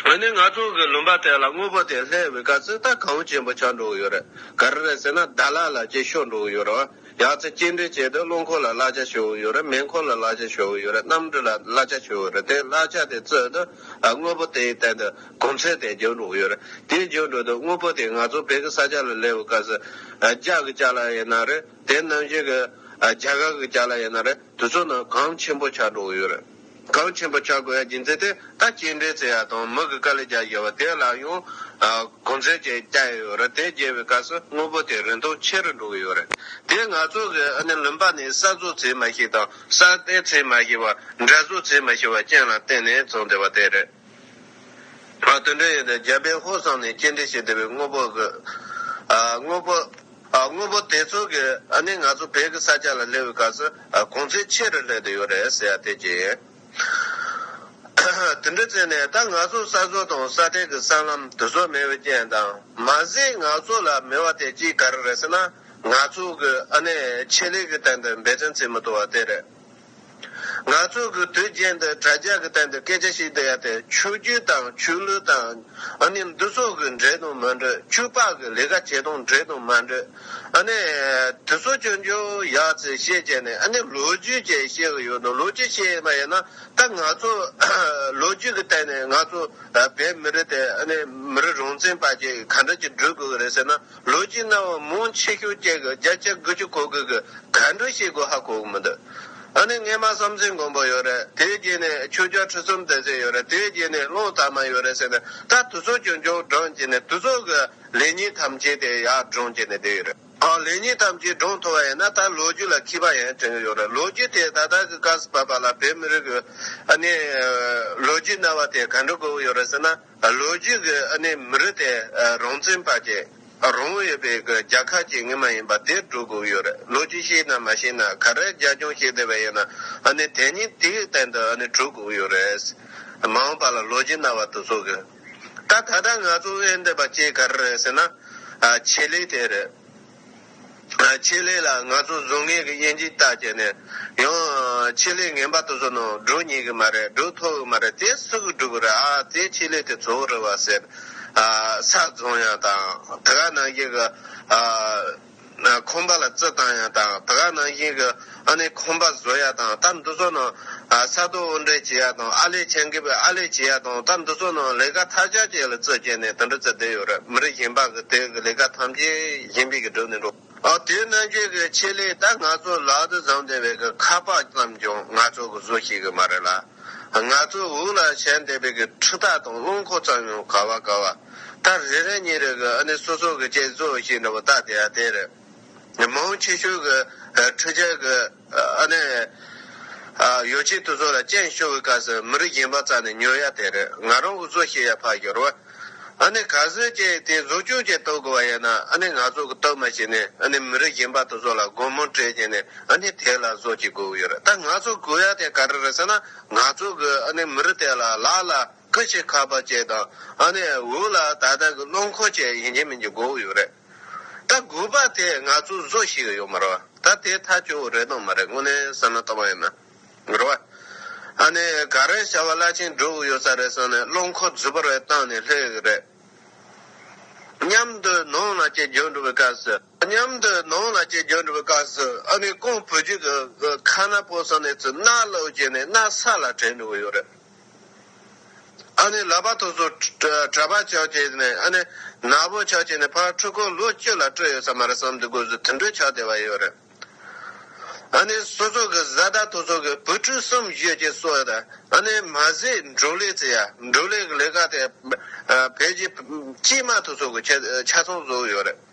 ཨ་ནི་ང་ཚོ་གི་ལུང་པ་དེ་ལ་དངོས་པོ་དེ་ལྷའི་བི་ཀ་ཙི་ཏ་གངས་ཅན་པོ་ཆགས་འགྲོ་གི་ཡོད་རེད་ག་རེ་རེད་ཟེར་ན་ད་ལ་ལ་ཅིག་ཤོར་འགྲོ་གི་ཡོད་རེད་བ་ཡག་ཚེ་སྐྱེལ་འདྲེན་བྱས་ཏེ་རླུང་འཁོར་ལ་གླ་ཆ་ཤོར་གི་ཡོད་རེད་མེ་འཁོར་ལ་གླ་ཆ་ཤོར་གི་ཡོད་རེད་གནམ་གྲུ་ལ་གླ་ཆ་ཤོར་གི་རེད་དེ་གླ་ཆ་དེ་བཙོས་ཏེ་དངོས་པོ་དེའི་སྟེང་དུ་གོམས་ཚད་དེ་འཇོག་འགྲོ་གི་ཡོད་རེད་དེ་འཇོག་འགྲོ་དུས་དངོས་པོ་དེ་ང་ཚོ་བོད་ཀྱི་ས་ཆ་ལ་ལྷའི་བི་ཀ་ཙི་ཏ་གི་ལྕགས་ལ་ཡིན་ན་རེད་དེ་ནམ་ཞིག་གི་རྒྱ་གར་གི་ལྕགས་ལ་ཡིན་ན་རེད་དུས་ཚོད་ནི་གངས་ཆེན་པོ་ཆགས་འགྲོ་གི་ཡོད་རེད། གངས་ཆེན་པོ་ཆགས་དགོས་ཡ་རྒྱུ་མཚན་དེ་ད་སྐྱེས་འབྲས་ཚེ་ཡ་དང་མི་གི་དཀའ་ལས་རྒྱག་ཡོད་པ་དེ་ལ་ཡང་གོ་མཚོན་ཅིག་བསྐྱལ་ཡོད་རེད་དེ་བསྐྱལ་བའི་སྐབས་སུ་དངོས་པོ་དེ་རིན་ཐང་ཆེ་རུ་འགྲོ་གི་ཡོད་རེད་དེ་ང་ཚོ་གི་ཨ་ནེ་ལུམ་པ་ནས་གསར་བཟོ་ཚེ་མ་ཤེས་དང་གསར་གཏན་ཚེ་མ་ཤེས་པ་འདྲ་བཟོ་ཚེ་མ་ཤེས་པ་ཅན་ལ་བརྟེན་ནས་ཚོང་བསྡེ་བ་དེ་རེད། ང་དོན་འགྲེལ་ཡོད་དེ་རྒྱལ་པོའི་ཧོར་བསང་ནས་སྐྱེས་འབྲས་ཤིག་བདེ་བའི་དངོས་པོ་བཟོས། དངོས་པོ། དངོས་པོ་དེ་ཚོ་གི་ཨ་ནི་ང་ཚོ་བོད་ཀྱི་ས་ཆ་ལ་སླེ་བའི་སྐབས་སུ་གོང་ཚད་ཆེ་རུ་སླེ་དུ་ཡོད་རེད་ཟེར་ཡ་དེ་གྱི་ཡིན། དེ་འདྲ་བྱས་ནས་ད་ང་ཚོ་ས་བཟོ་དང་ས་སྤྲེལ་གྱི་སྲང་ལམ་དེ་ཚོ་མེད་པའི་རྐྱེན་དང་མ་ཟད་ང་ཚོ་ལ་མེད་བ་དེ་གཅིག་ག་རེ་རེད་ཟེར་ན་ང་ཚོ་གི་ཨ་ནི་ཆེད་ལས་ཀྱི་སྟེང་དུ་འབད་བརྩོན་བྱེད་མི་ཐུབ་བ་དེ་རེད། ང་ཚོ་གི་དུས་རྒྱན་འདི་དྲ་རྒྱ་གི་སྟེང་དུ་སྐད་ཆ་ཞིག་བསྡད་དེ་ཆོས་རྒྱུད་དང་ཆོས་ལུགས་དང་ཨ་ནི་འདི་སོགས་ཀྱི་འདྲེས་དང་མ་འདྲེས་ཆོས་དཔག་གི་ལས་ཀ་བྱེད་སྟངས་འདྲེས་དང་མ་འདྲེས་ཨ་ནི་དེ་སོགས་ཀྱི་འགྱོ་ཡག་ཚེ་བཤད་བྱས་ནས་ཨ་ནི་ལོ་རྒྱུས་ཀྱི་བཤད་གི་ཡོད་དོ་ལོ་རྒྱུས་བཤད་ཡས་པ་ཡིན་ན་ད་ང་ཚོ་ལོ་རྒྱུས་གི་སྟེང་ནས་ང་ཚོ་བས་མི་རིགས་དེ་ཨ་ནི་མི་རིགས་རང་བཙན་བར་གྱི་ག་འདྲ་གྱི་འགྲུལ་དགོས་གི་རེད་ཟེར་ན། ལོ་རྒྱུས་རྣ་བ་མུན་ཆེ་ཤོས་ཀྱི་རྒྱ་ཆ་དགུ་ཅུ་གོ་དགོས་ཀི་ག་འགྲོ་བྱེད་དགོས་ཧ་གོ་གི་མི་འདུག་ཨ་ནི་ངས་མ་བསམ་ཚེ་མགོན་པོ་ཡོད་རེད་དེའི་རྗེས་ནས་ཆོས་རྒྱ་ཁྲི་སུམ་བསྡད་ཚེ་ཡོད་རེད་དེའི་རྗེས་ནས་བློ་དག་མ་ཡོད་རེད་ཟེར་ནས་ད་དུ་ཚོགས་ཆུང་ཆུང་བསྒྲང་བྱས་ནས་དུ་ཚོགས་ཀྱི་ལས་ཉིན་ཐམས་ཅད་དེ་ཡར་བསྒྲང་བྱས་ནས་བསྡད་ཡོད་རེད་ཨང་ལས་ཉིན་ཐམས་ཅད་བསྒྲང་ཐུབ་པ་ཡིན་ན་ད་ལོ་རྒྱུས་ལ་ཁྱི་པ་ཡང་དྲན་གི་ཡོད་རེད་ལོ་རྒྱུས་དེ་ད་ལྟ་གི་སྐབས་སུ་བབས་པ་ལ་བོད་མི་རིགས་ཀྱི་ཨ་ནི་ལོ་རྒྱུས་རྣ་བ་དེ་ག་འགྲོ་དགོས་ཀྱི་ཡོད་རེད་ཟེར་ན། ལོ་རྒྱུས་ཀྱི་ཨ་ནེ་མི་རིགས་དེ་རང་བཙན་བར་གྱི་རང་དབང་ཡོད་པའི་རྒྱ་ཁག་ཅིག་ངེས་མ་ཡིན་པ་དེ་སྒྲོ་དགོས་ཀྱི་ཡོད་རེད་ལོ་རྒྱུས་ཤེས་ན་མ་ཤེས་ན་ག་རེ་རྒྱ་སྐྱོང་བྱེད་བསྡད་པ་ཡིན་ན་ཨ་ནེ་དེ་ཉིད་དེའི་སྟེང་དུ་ཨ་ནེ་གྲུབ་དགོས་ཀྱི་ཡོད་རེད། མ་འོངས་པ་ལ་ལོ་རྒྱུས་རྣ་བར་དུ་ཟུག་གི། ད་ད་ལྟ་ང་ཚོ་དབེན་བསྡད་པ་བཅས་ག་རེ་རེད་ཟེར་ན། ཆེད་ལས་དེ་རེད། ཆེད་ལས་ལ་ང་ཚོ་བཟོ་ངེས་ཀྱི་དབྱེ་འབྱེད་བལྟ་བྱས་ནས་ཡང། ཆེད་ལས་ངན་པ་དེ་ཚོ་ནང་སྒྲོ་ཉིས་གི་མ་རེད་སྒྲོ་མཐོ་གི་མ་རེད་དེ་སུ་གི་སྒྲུབ་གི་རེད་ཨ་ཙེའི་ཆེད་ལས་དེ་ཚོ་རེད་བ་ཟེར། ས་བཙོང་ཡང་དང་དེ་ག་ནང་བཞིན་གྱི། ཁོམ་པ་ལ་རྩི་བཏང་ཡང་དང་དེ་ག་ནང་བཞིན་གྱི། ཨ་ནེ་ཁོང་པ་བཟོ་ཡག་དང་ལྟ་འདུ་ཚོགས་ནང་ས་རྡོ་དབོར་འདྲེན་བྱེད་ཡག་དང་ཨ་ལས་ཆན་འགེབས་པའི་ཨ་ལས་བྱེད་ཡག་དང་ལྟ་འདུ་ཚོགས་ནང་ལས་ཀ་ཐ་ཆ་བཅས་ལ་རྩོད་བཅད་ནས་དུ་འགྲོ་ཚད་བསྡད་ཡོད་རེད་མི་རིགས་གཞན་པ་གི་དེ་གི་ལས་ཀ་ཐམས་ཅད་གཞན་པས་གི་སྒྲུབ་ནས་འགྲོ། ཨོ་དེ་རྣམས་ཀྱི་གི་ཆེད་ལས་ད་ང་ཚོ་ལག་ཏུ་བཟང་བསྡད་པའི་གི་ཁ་པགས་ཙམ་ཀྱང་ང་ཚོ་གི་བཟོ་ཤེས་གི་མ་རེད་ལ་ང་ཚོ་དབུགས་ལ་བྱས་བསྡད་པའི་གི་འཕྲུ་ཐག་དང་རླུང་འཁོར་ཙམ་ཡང་ག་བ་ག་བ་ད་རེ་རེ་གཉིས་རེ་གི་ཨ་ནེ་སོ་སོ་གི་བཅས་བཟོ་ཤེས་འདྲ་བོ་ད་དེ་ཡ་དེ་རེད། མ་འོངས་ཕྱི་ཤུལ་གྱི་འཕྲུལ་ཆས་ཀྱི་ཨ་ནེ། ཡོ་ཆི་དེ་ཚོ་ལ་སྤྱན་ཤོར་བའི་སྐབས་སུ་མི་རིགས་གཞན་པ་རྩ་ནས་ཉོ་ཡ་དེ་རེད་ང་རང་གི་བཟོ་ཤེས་ཡ་ཕར་ཤོར་བ། ཨ་ནེ་ག་ཟེར་ཀྱི་དེ་བཟོ་ཆུང་ཅིག་གཏོད་དགོས་པ་ཡིན་ན་ཨ་ནེ་ང་ཚོ་གི་གཏོད་མ་བྱེད་ནས་ཨ་ནེ་མི་རིགས་གཞན་པ་དེ་ཚོ་ལ་སྒོར་མོ་སྤྲད་ཀྱི་ནས་ཨ་ནེ་དེ་ལ་བཟོ་ཅིག་དགོས་གི་ཡོད་རེད་ད་ང་ཚོ་དགོས་ཡ་དེ་ག་རེ་རེད་ཟེར་ན་ང་ཚོ་གི་ཨ་ནེ་མི་རིགས་དེ་ལ་ལ་ལ་ཀི་ཞིག་ཁ་པར་བཅས་དང་ཨ་ནེ་འུ་ལ་ད་ལྟ་གི་བློ་འཁོར་བཅས་ཡིན་གྱི་མིན་གྱི་དགོས་གི་ཡོད་རེད། ད་དགོས་པ་དེ་ང་ཚོ་བཟོ་ཞིག་ཡོད་མ་རེད། ད་དེ་ཐག་གཅོད་བོ་རེད་དང་མ་རེད་དངོས་གནས་བསམ་ན་ལྟ་བ་ཡིན་ན། རེད་བ། ཨ་ནི་ག་རེ་བྱ་བ་བླ་ཆེན་སྒྲུབ་བོ་ཡོད་ས་རེད་བསམ་ནས་བློ་འཁོར་རྫུ་བར་བས་བཏང་ནས་སླེབས་གི་རེད། མཉམ་དུ་ནང་ལ་སྐྱེལ་རྒྱུ་འགྲོ་བའི་སྐབས་སུ། མཉམ་དུ་ནང་ལ་སྐྱེལ་རྒྱུ་འགྲོ་བའི་སྐབས་སུ་ཨ་ནི་ཀོང་བོད་རྒྱུད་ཀྱི་ཁ་ན་པོ་བསམ་ནས་ཚུར་སྣ་བླུག་བྱས་ནས་སྣ་ས་ལ་དྲན་འགྲོ་གི་ཡོད་རེད། ཨ་ནི་ལག་པ་ཐོག་སོ་གྲ་པ་ཆག་བྱས་ནས་ཨ་ནི་ནག་པོ་ཆག་བྱས་ནས་ཕར་འཕྲོས་ཁོ་ལོ་གཅིག་ལ་སྤྲོད་ཡོད་ས་མ་རེད་བསམ་དུས་དགོས་ཟོ་དུད་འགྲོས་ཆག་བདེ་བ་ཡོད་རེད། ཨ་ནི་སོ་སོ་གི་བཟའ་ཟླ་ཐོག་སོ་གི་བུ་ཕྲུག་གསུམ་བཞི་བཅས་གསོ་ཡོད་ཨ་ནི་མ་ཟི་འབྲུག་ལས་ཚེ་ཡ་འབྲུག་ལས་གི་ལས་ཀ་དེ་བས་ཀྱི་དཀྱིས་མ་ཐོག་སོ་གི་ཆ་ཚང་བཟོ་ཡོད་རེད།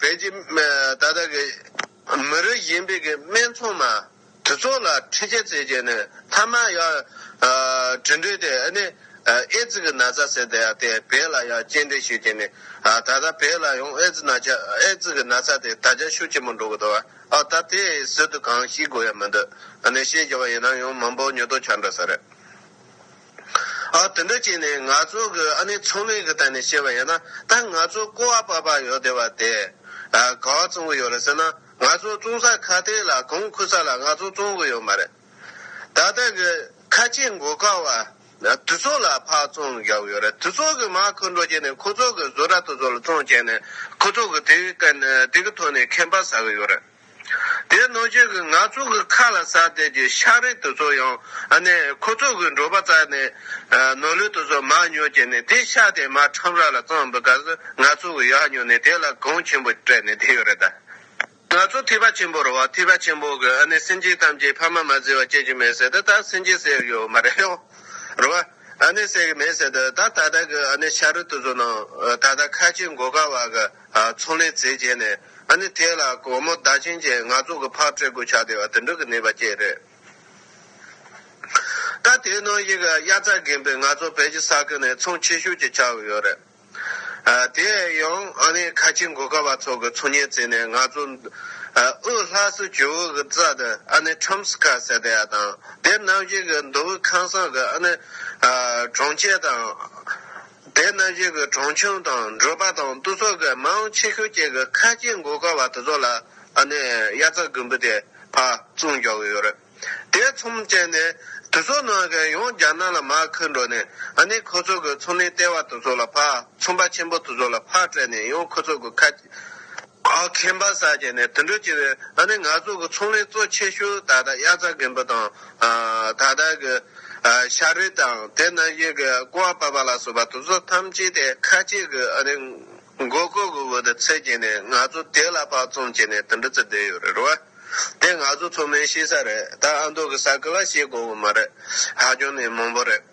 བོད་ཀྱི་ད་ལྟ་གི་མི་རིགས་གཞན་པའི་གི་སྨད་འཚོང་མ་དེ་ཚོ་ལ་ཁྲི་ཆད་བཙལ་རྒྱུ་ནི་ཐ་མ་ཡ། དྲི་འདོད་དེ་ཨ་ནི་ཨེ་ཙི་གི་ན་ཚ་ཟེར་དེ་ཡ་དེ་བོད་ལ་ཡ་སྐྱེ་འབྲས་ཤུགས་ཆེ་ནི་ད་ལྟ་བོད་ལ་ཡང་ཨེ་ཙི་ན་ཆ་ཨེ་ཙི་གི་ན་ཚ་དེ་ད་ཆ་ཤུགས་ཆེན་པོ་འགྲོ་གི་འདུག་ཨ་ད་དེ་ཟུར་དུ་གང་ཤི་དགོས་ཡ་མི་འདུག་ཨ་ནི་ཤེས་རྒྱ་བ་ཡིན་ན་ཡང་མང་པོ་ཉོ་ཐོ་ཆ་འདྲ་ས་རེད། དེ་འདྲ་བྱས་ནས་ང་ཚོ་གི་ཨ་ནེ་ཚང་མས་གི་ད་ནས་བཤད་པ་ཡིན་ན་ད་ང་ཚོ་སྐོར་བ་པ་པ་ཡོད་དེ་བ་དེ་ག་བ་ཚང་གི་ཡོད་རེད་ཟེར་ན་ང་ཚོ་བཙོང་ས་ཁ་ཏེ་ལ་གང་ཁུ་ས་ལ་ང་ཚོ་བཙོང་གི་ཡོད་མ་རེད་ད་ད་གི་ཁ་ཆེ་མགོ་ཁ་བ་དུ་ཚོགས་ལ་ཕག་བཙོང་རྒྱག་གི་ཡོད་རེད་དུ་ཚོགས་གི་མ་ཁུ་འགྲོ་བྱས་ནས་ཁུ་ཚོགས་གི་བཟོ་གྲ་དུ་ཚོགས་ལ་བཙོང་བྱས་ནས་ཁུ་ཚོགས་གི་དེ་གི་ཐོག་ནས་ཁེམ་པ་ཟ་གི་ཡོད་རེད། དེའི་ནོར་ཁྱོད་ཀྱིས་ང་ཚོ་གི་ཁ་ལ་ཟ་བསྡད་ཀྱི་ཤག་རིལ་དེ་ཚོ་ཡང་ནི་ཁོ་ཚོ་གི་འབྲོག་པ་རྩ་ནི་ནོར་ལུས་དེ་ཚོ་མར་ཉོས་ཀྱི་ནི་དེ་ཤག་དེ་མར་ཁྲམ་ར་ལ་གཙང་འབུད་ག་ཟི་ང་ཚོ་གི་ཡག་ཉོས་ནི་དེ་ལ་གངས་ཆེན་པོ་སྤྲད་ནི་དེ་ཡོད་རེད་ད། ང་ཚོ་ཐིས་པ་ཆེན་པོ་རུ་བ་ཐིས་པ་ཆེན་པོ་གི་ནི་སེམས་ཅན་ཐམས་ཅད་ཕ་མ་མ་ཟེར་བ་སྐྱེ་གི་མེད་ཟེར་དུ་ད་སེམས་ཅན་ཟེར་ཡོད་མ་རེད་ཡོང་རུ་བ་ནི་ཟེར་གི་མེད་ཟེར་དུ་ད་ད་ལྟ་གི་ནི་ཤག་རིལ་དེ་ཚོ་ནང་ད་ད་ཁ་ཆེ་མགོ་དཀར་བ་གི། ཚོང་ལས་ཚེ་བྱས་ནས་ཨ་ནི་དེ་ལ་སྒོར་མོ་ཟླ་བྱིན་ཅན་ང་ཚོ་གི་ཕར་སྤྲོད་དགོས་ཆགས་དེ་བ་དུད་འགྲོ་གི་ནུས་པ་བཅས་རེད། ད་དེའི་ནང་ཞིག་གི་དབྱར་རྩྭ་རྒན་པོས་ང་ཚོ་བལ་གྱི་ས་ཁུལ་ནས་ཚོང་ཆེ་ཤོས་ཀྱི་ཆགས་ཀྱི་ཡོད་རེད། དེ་ཡང་ཨ་ནི་ཁ་ཆེ་མགོ་དཀར་བ་ཚོ་གི་ཚོང་གཉེར་རྩིས་ནས་ང་ཚོ་དབུས་ལྷ་སའི་ཇོ་བོ་གི་རྩ་དེ་ཨ་ནི་ཁྲོམ་སི་ཁ་ཟེར་དེ་ཡ་དང་དེར་ནམ་ཞིག་གི་མདོ་དབུས་ཁང་བཟང་གི་ཨ་ནི་གྲོང་ཁྱེར་དང། དེས་ན་གཞིས་ཀྱི་གྲོང་ཆུང་དང་འབྲོག་པ་དང་བསྟུ་གསོག་གི་མ་འོངས་ཆེ་ཤོས་གཅིག་གི་ཁ་ལྕེ་མགོ་དཀར་བ་དེ་ཚོ་ལ་ཨ་ནེ་དབྱར་རྩྭ་དགུན་འབུ་དེ་ཕ་བཙུགས་འཇོག་གི་ཡོད་རེད། དེའི་ཚོམས་བཅད་ནས་དེ་ཚོ་ནང་གི་ཡོངས་རྒྱ་ནག་ལ་མ་འཁུར་འགྲོ་ནས་ཨ་ནེ་ཁོ་ཚོ་གི་ཚོང་ལས་ལྟེ་བ་དེ་ཚོ་ལ་ཕ་ཚོང་པ་ཆེན་པོ་དེ་ཚོ་ལ་ཕ་སྤྲད་ནས་ཡང་ཁོ་ཚོ་གི་ཁ་ཨའོ་ཁེན་པ་ས་ཅན་ནས་དུད་འགྲོ་བྱེ་བའི་ཨ་ནེ་ང་ཚོ་གི་ཚོང་ལས་གཙོ་ཆེ་ཤོས་ད་ལྟ་དབྱར་རྩྭ་རྒན་པོ་དང། ད་ལྟ་གི། ཤ་རུས་དང་དེ་རྣམས་བཞིན་གྱི་ཀོ་བ་པ་པ་ལ་སོགས་པ་དུག་ཟོག་ཐམས་ཅད་དེ་ཁ་ལྕེ་གི་ཨ་ནེ། མགོ་སྐོར་གྱི་འོག་ཏུ་འཚེད་ཀྱིན་ནས་ང་ཚོ་དེ་ལ་དཔག་བཙོང་བྱས་ནས་དུད་འགྲོ་བརྩི་བསྡད་ཡོད་རེད་བ། དེ་ང་ཚོ་ཚོ་མའི་ཤེས་ས་རེད་ད་ཨ་མདོ་གི་ས་ཁུལ་ལ་ཤེས་དགོས་བ་མ་རེད། ཧ་ཅང་ནས་མང་པོ་རེད།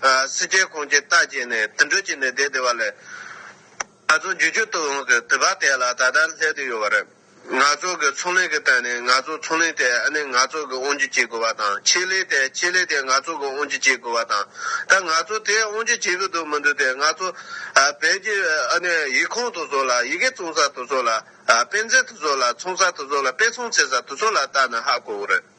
སྲིད་རྒྱལ་ཁོང་ཀྱི་རྟགས་བྱས་ནས་དུད་འགྲོ་གྱི་ནི་དེ་དེ་བ་ལས། ང་ཚོ་རྒྱུ་རྒྱུ་ཏུ་ཡོངས་སུ་དུད་པ་དེ་ལ་ད་ལྟར་སླེབས་དུ་ཡོད་པ་རེད། ང་ཚོ་གི་ཚོང་ལས་ཀྱི་སྟེང་ནས་ང་ཚོ་ཚོང་ལས་དེ་ཨ་ནི་ང་ཚོ་གི་དབང་རྒྱུ་བྱེད་དགོས་པ་དང་ཆེད་ལས་དེ་ཆེད་ལས་དེ་ང་ཚོ་གི་དབང་རྒྱུ་བྱེད་དགོས་པ་དང་ད་ང་ཚོ་དེ་དབང་རྒྱུ་བྱེད་གི་འདུག་མི་འདུག་དེ་ང་ཚོ་བོད་ཀྱི་ཨ་ནི་ཡིག་ཁང་དུ་ཟོ་ལ་ཡི་གེ་བཙོང་ས་དུ་ཟོ་ལ་དཔེ་མཛོད་དུ་ཟོ་ལ་ཚོང་ས་དུ་ཟོ་ལ་དཔེ་ཚོང་བྱེད་ས་དུ་ཟོ་ལ་བལྟ་ན་ཧ་གོ་གི་རེད།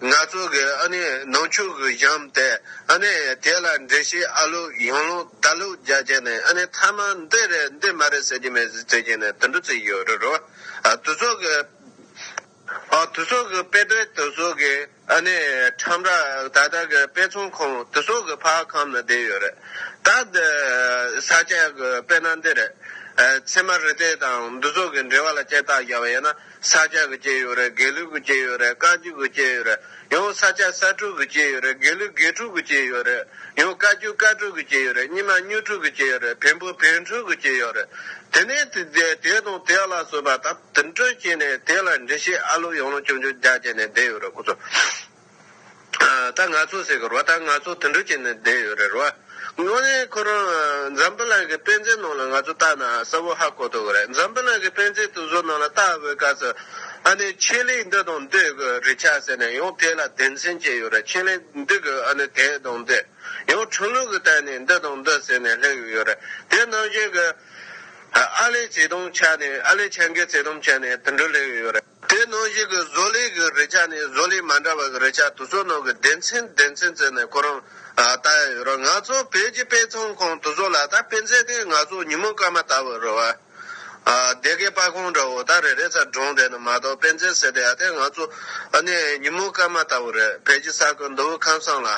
ནག་ཚོགས་ཀྱི་ཨ་ནེ་ནང་ཆོས་ཀྱི་གཞམ་སྟེ་ཨ་ནེ་དེ་ལ་འགྲེལ་བཤད་ཨ་ལོག་ཡང་ལོག་ད་ལོག་རྒྱག་རྒྱག་ནས་ཨ་ནེ་ཐ་མ་འདི་རེད་འདི་མ་རེད་ཟེར་གྱི་མེད་ཟེར་གྱི་ནས་དུད་འགྲོ་བརྩི་གི་ཡོད་རེད་རོ། དུད་ཚོགས་ཀྱི། དུད་ཚོགས་ཀྱི་དཔེ་དཔེ་དུད་ཚོགས་ཀྱི་ཨ་ནེ་ཁྲམ་ར་ད་ལྟ་གི་དཔེ་ཚོང་ཁང་དུད་ཚོགས་ཀྱི་ཕ་ཁམས་ན་བསྡད་ཡོད་རེད་ད། འདི་ས་སྐྱ་གི་དཔེ་ན་འདི་རེད། ཚད་མ་རི་སྟེགས་དང་འདུ་ཚོགས་ཀྱི་འབྲེལ་བ་ལ་སྐྱེར་སྟག་རྒྱག་པ་ཡིན་ན། ས་སྐྱ་གི་སྐྱེས་ཡོད་རེད་དགེ་ལུགས་ཀྱི་སྐྱེས་ཡོད་རེད་བཀའ་བརྒྱུད་ཀྱི་སྐྱེས་ཡོད་རེད་ཡང་ས་སྐྱ་ས་དྲུག་གི་སྐྱེས་ཡོད་རེད་དགེ་ལུགས་དགེ་དྲུག་གི་སྐྱེས་ཡོད་རེད་ཡང་བཀའ་བརྒྱུད་བཀའ་དྲུག་གི་སྐྱེས་ཡོད་རེད་སྙི་མ་སྙུ་དྲུག་གི་སྐྱེས་ཡོད་རེད་བེམ་པོ་བེམ་དྲུག་གི་སྐྱེས་ཡོད་རེད་དེ་ནས་དེ་དེ་དེ་དང་དེ་ལ་སོས་པ་ད་དུ་འདྲི་སྐྱེས་ནས་དེ་ལ་འདྲི་ཤེས་ཨ་ལོ་ཡང་ལོ་ཅུང་ཅུང་རྒྱ་བསྐྱེད་ནས་བསྡད་ཡོད་རེད་ཁོ་ཚོ། ད་ང་ཚོ་ཟེར་གི་རོ་ད་ང་ཚོ་དུད་འགྲོ་བྱས་ནས་བསྡད་ཡོད་རེད་རོ། དངོས་གནས་ཁོ་རང་འཛམ་བུ་གླིང་གི་དཔེ་མཛོད་ནང་ལ་ང་ཚོ་བལྟ་ན་གསལ་བོ་ཧ་གོ་ཐུབ་གི་རེད་འཛམ་བུ་གླིང་གི་དཔེ་མཛོད་དུད་འགྲོ་ནང་ལ་བལྟ་བའི་སྐབས་སུ། ཨ་ནི་ཆེད་ལས་འདི་དང་འདི་གི་རེ་ཆག་ཟེར་ནས་ཡང་དེ་ལ་སྡེ་མཚན་བྱས་ཡོད་རེད་ཆེད་ལས་འདི་གི་ཨ་ནི་དེ་དང་འདི། ཡང་ཁྲུང་ལུགས་ཀྱི་སྟེང་ནས་འདི་དང་འདི་ཟེར་ནས་སླེབས་ཡོད་རེད་དེ་ནང་བཞིན་གྱི། ཨ་ལས་བྱེད་དུང་བྱ་ནས་ཨ་ལས་བྱ་འགའི་བྱེད་དུང་བྱ་ནས་དུད་འགྲོ་སླེབས་ཡོད་རེད། དེའི་ནང་བཞིན་གྱི་བཟོ་ལས་ཀྱི་རེ་ཆག་ནི་བཟོ་ལས་མ་འདྲ་བ་གི་རེ་ཆག་དུ་བཟོ་ནང་གི་སྡེ་ཚན་སྡེ་ཚན་བརྩད་ནས་ཁོ་རང་ལྟ་ཡ་ཡོད་ར་ང་ཚོ་བོད་ཀྱི་དཔེ་ཚོང་ཁང་དུ་བཟོ་ལ་ད་དཔེ་མཛད་དུས་ང་ཚོ་ཉིན་མོ་སྐར་མ་ལྟ་བུ་རེད་བ། སྡེ་དགེ་དཔའ་ཁང་འདྲ་བོ་ད་རེ་རེ་ཚ་གྲོང་བསྡད་ནི་མ་གཏོགས་དཔེ་མཛད་ཟེར་དུས་ཡ་དེ་ང་ཚོ་ནི་ཉིན་མོ་སྐར་མ་ལྟ་བུ་རེད་བོད་ཀྱི་ས་ཁུལ་མདོ་དབུས་ཁམས་སང་ལ་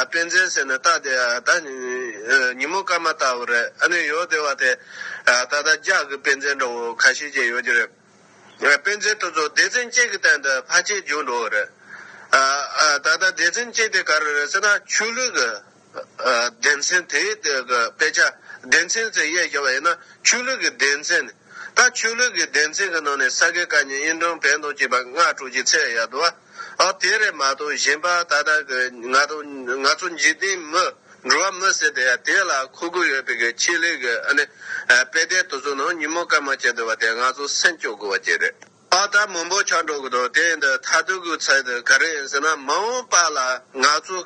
དཔེ་མཛད་ཟེར་ནི་ལྟ་དེ་ད་ཉིན་མོ་སྐར་མ་ལྟ་བུ་རེད་ཨ་ནི་ཡོད་དེ་བ་དེ་ད་ད་ལྗགས་ཀྱི་དཔེ་མཛད་འདྲ་བོ་ཁ་ཤས་ཀྱི་ཡོད་ཀྱི་རེད། དཔེ་མཛོད་དུ་ཚོ་སྡེ་ཚན་གཅིག་གི་སྟེང་དུ་ཕ་ཆེ་རྒྱུགས་འགྲོ་བ་རེད། ད་ལྟ་སྡེ་ཚན་གཅིག་དེ་ག་རེ་རེད་ཟེར་ན་ཆོས་ལུགས་ཀྱི་སྡེ་ཚན་དེའི་དཔེ་ཆ་སྡེ་ཚན་ཟེར་དབྱེ་བྱས་པ་ཡིན་ན་ཆོས་ལུགས་ཀྱི་སྡེ་ཚན། ད་ཆོས་ལུགས་ཀྱི་སྡེ་ཚན་གྱི་ནང་ནས་ས་དགེ་བཀའ་རྙིང་དབྱིན་འབྲོང་བན་སྟོང་བཅས་པ་སྔ་དྲོ་ཀྱི་ཚེས་ཡར་དུ་བ། ཨཱ་དེ་རེད་མ་གཏོགས་གཞན་པ་ད་ལྟ་གི་ང་དང་ང་ཚོ་འཇིག་རྟེན་མི་འགྲོ་བ་མི་སྲིད་དེ་དེ་ལ་མཁོ་དགོས་ཡོད་པའི་གི་ཆེད་ལས་གི་ཨ་ནི་དཔེ་ལྟའི་དུ་ཚོད་ནང་ཉིན་མོ་སྐར་མ་བཅད་འདུག་བ་དེ་ང་ཚོ་སེམས་སྐྱོ་དགོས་བ་ཅི་རེད། ཨཱ་ད་མང་པོ་ཆགས་འགྲོ་གི་འདུག་དེ་འདི་མཐའ་དུས་གི་ཚད་དུ་ག་རེ་ཡིན་ཟེར་ན་མ་འོངས་པ་ལ་ང་ཚོ་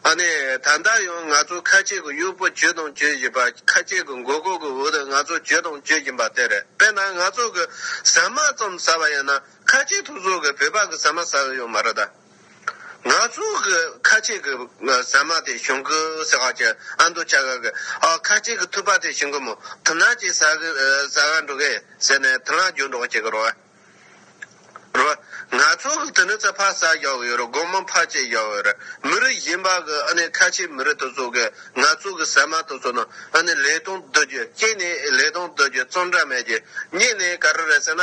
ཨཱ་ནི་ད་ལྟ་ཡང་ང་ཚོ་ཁ་ཆེ་གི་གཡོག་པོ་གྱོད་དང་གྱོད་བཞིན་པ་ཁ་ཆེ་གི་མགོ་སྐོར་གི་འོག་ཏུ་ང་ཚོ་གྱོད་དང་གྱོད་བཞིན་པ་དེ་རེད་དཔེར་ན་ང་ཚོ་གི་ཟ་མ་ཙམ་ཟ་བ་ཡིན་ན་ཁ་ཆེ་ཐུགས་ཟོག་གི་བོད་ཕག་གི་ཟ་མ་ཟ་གི་ཡོད་མ་རེད་ད། ང་ཚོ་གི་ཁ་ཆེ་གི་ཟ་མ་དེ་ཞོན་གི་ཟེར་བ་ཀྱི་ཨ་མདོ་ཆ་ག་གི་ཨ་ཁ་ཆེ་གི་ཐུག་པ་དེ་ཞིང་གི་མོ་དེ་ནག་ཅིག་ཟ་གི་ཟ་ག་འགྲོ་གི་ཟེར་ནས་དེ་ལ་འཇུ་འགྲོག་བྱེད་གི་རོ། རོ། ང་ཚོ་གི་དེ་ནི་ཚ་ཕག་ཟ་ཡོད་གི་ཡོད་རེད་སྒོར་མོ་ཕག་ཅིག་ཡོད་རེད་མི་རིགས་གཞན་པ་གི་ཨ་ནི་ཁ་ཆེ་མི་རིགས་དེ་ཚོ་གི་ང་ཚོ་གི་ཟ་མ་དེ་ཚོ་ནི་ཨ་ནི་ལས་དང་བསྡུ་རྒྱུ་སྐྱེས་ནས་ལས་དང་བསྡུ་རྒྱུ་བཙོང་གྲ་མེད་རྒྱུ་རྙེད་ནས་ག་རེ་རེད་ཟེར་ན།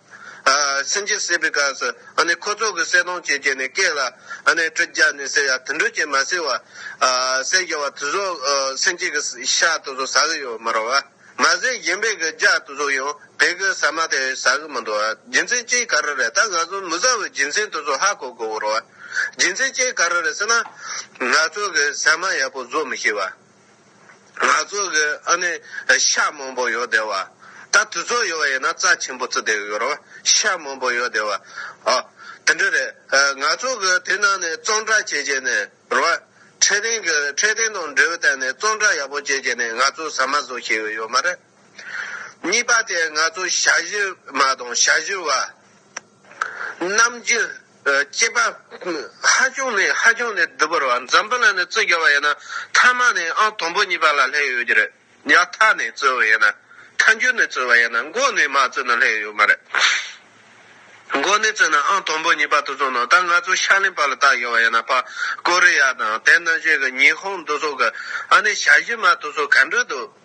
སེམས་ཅན་སྲིད་པའི་སྐབས་སུ་ཁོ་ཚོ་གི་གསལ་སྟོང་བྱེད་ཀྱི་ནི་སྐད་ལ་དྲི་བརྒྱབ་ནས་ཟེར་ཡ་དུད་འགྲོ་ཅན་མ་ཟེར་བ། ཟེར་བྱ་བ་དུ་ཟོག་སེམས་ཅན་གྱི་ཤ་དུ་ཟོག་ཟ་གི་ཡོད་མ་རོ། མ་ཟས་གཞན་པའི་གི་ལྗགས་དུ་ཟོག་ཡང་བད་གི་ཟ་མ་དེ་ཟ་གི་མི་འདུག་རྒྱུ་མཚན་ཅི་ག་རེ་རེད་ད་ང་ཚོ་མི་ཟ་བའི་རྒྱུ་མཚན་དུ་ཟོག་ཧ་གོ་དགོས་བོ་རོ། རྒྱུ་མཚན་ཅི་ག་རེ་རེད་ཟེར་ན། ང་ཚོ་གི་ཟ་མ་ཡག་པོ་ཟོ་མི་ཤེས་བ། ང་ཚོ་གི་ཨ་ནི་ཤ་མང་པོ་ཡོད་དེ་བ། ད་དུས་ཚོད་ཡོད་ཡིན་ན་རྩ་ཆེན་པོ་བཙི་དེ་ཡོད་རོ། ཤ་མང་པོ་ཡོད་དེ་བ། ཨོ། དེ་འདྲ་རེད། ང་ཚོ་གི་དེ་ནང་ནས་གཙང་སྦྲ་བྱས་རྗེས་ནས་རོ། འཕྲེད་སྟེང་གི་འཕྲེད་སྟེང་དང་འབྲེལ་བའི་སྟེང་ནས་གཙང་སྦྲ་ཡག་པོ་བྱས་རྗེས་ནས་ང་ཚོ་ཟ་མ་བཟོ་ཤེས་གི་ཡོད་མ་རེད། གཉིས་པ་དེ་ང་ཚོ་ཤ་བཞི་མ་དང་ཤ་བཞི་བ། རྣམས་ཀྱི་སྐྱེས་པ་ཧ་ཅང་ནས་ཧ་ཅང་ནས་བདུད་བོར་བ་འཛམ་བུ་ལ་ནས་རྩི་རྒྱོ་བ་ཡིན་ན་ཐ་མ་ནས་ཨང་དང་པོ་གཉིས་པ་ལ་ལྷད་ཡོད་ཀྱི་རེད་ཡ་ཐ་ནས་རྩི་བ་ཡིན་ན་ཐ་མཇུག་ནས་རྩི་བ་ཡིན་ན་མགོ་ནས་མ་རྩི་ན་ལྷད་ཡོད་མ་རེད་མགོ་ནས་རྩི་ན་ཨང་དང་པོ་གཉིས་པ་དུ་ཚོང་ནང་ད་ང་ཚོ་ཤར་གླིང་བར་ལ་བཏགས་ཡོད་བ་ཡིན་ན་བ་ཀོ་རི་ཡ་དང་དེ་ན་གཞོན་གྱི་ཉི་ཧོང་དུ་ཚོགས་གི་ཨ་ནས་བྱ་གཞི་མ་དུ་ཚོགས་ག་འདྲ་འདུག།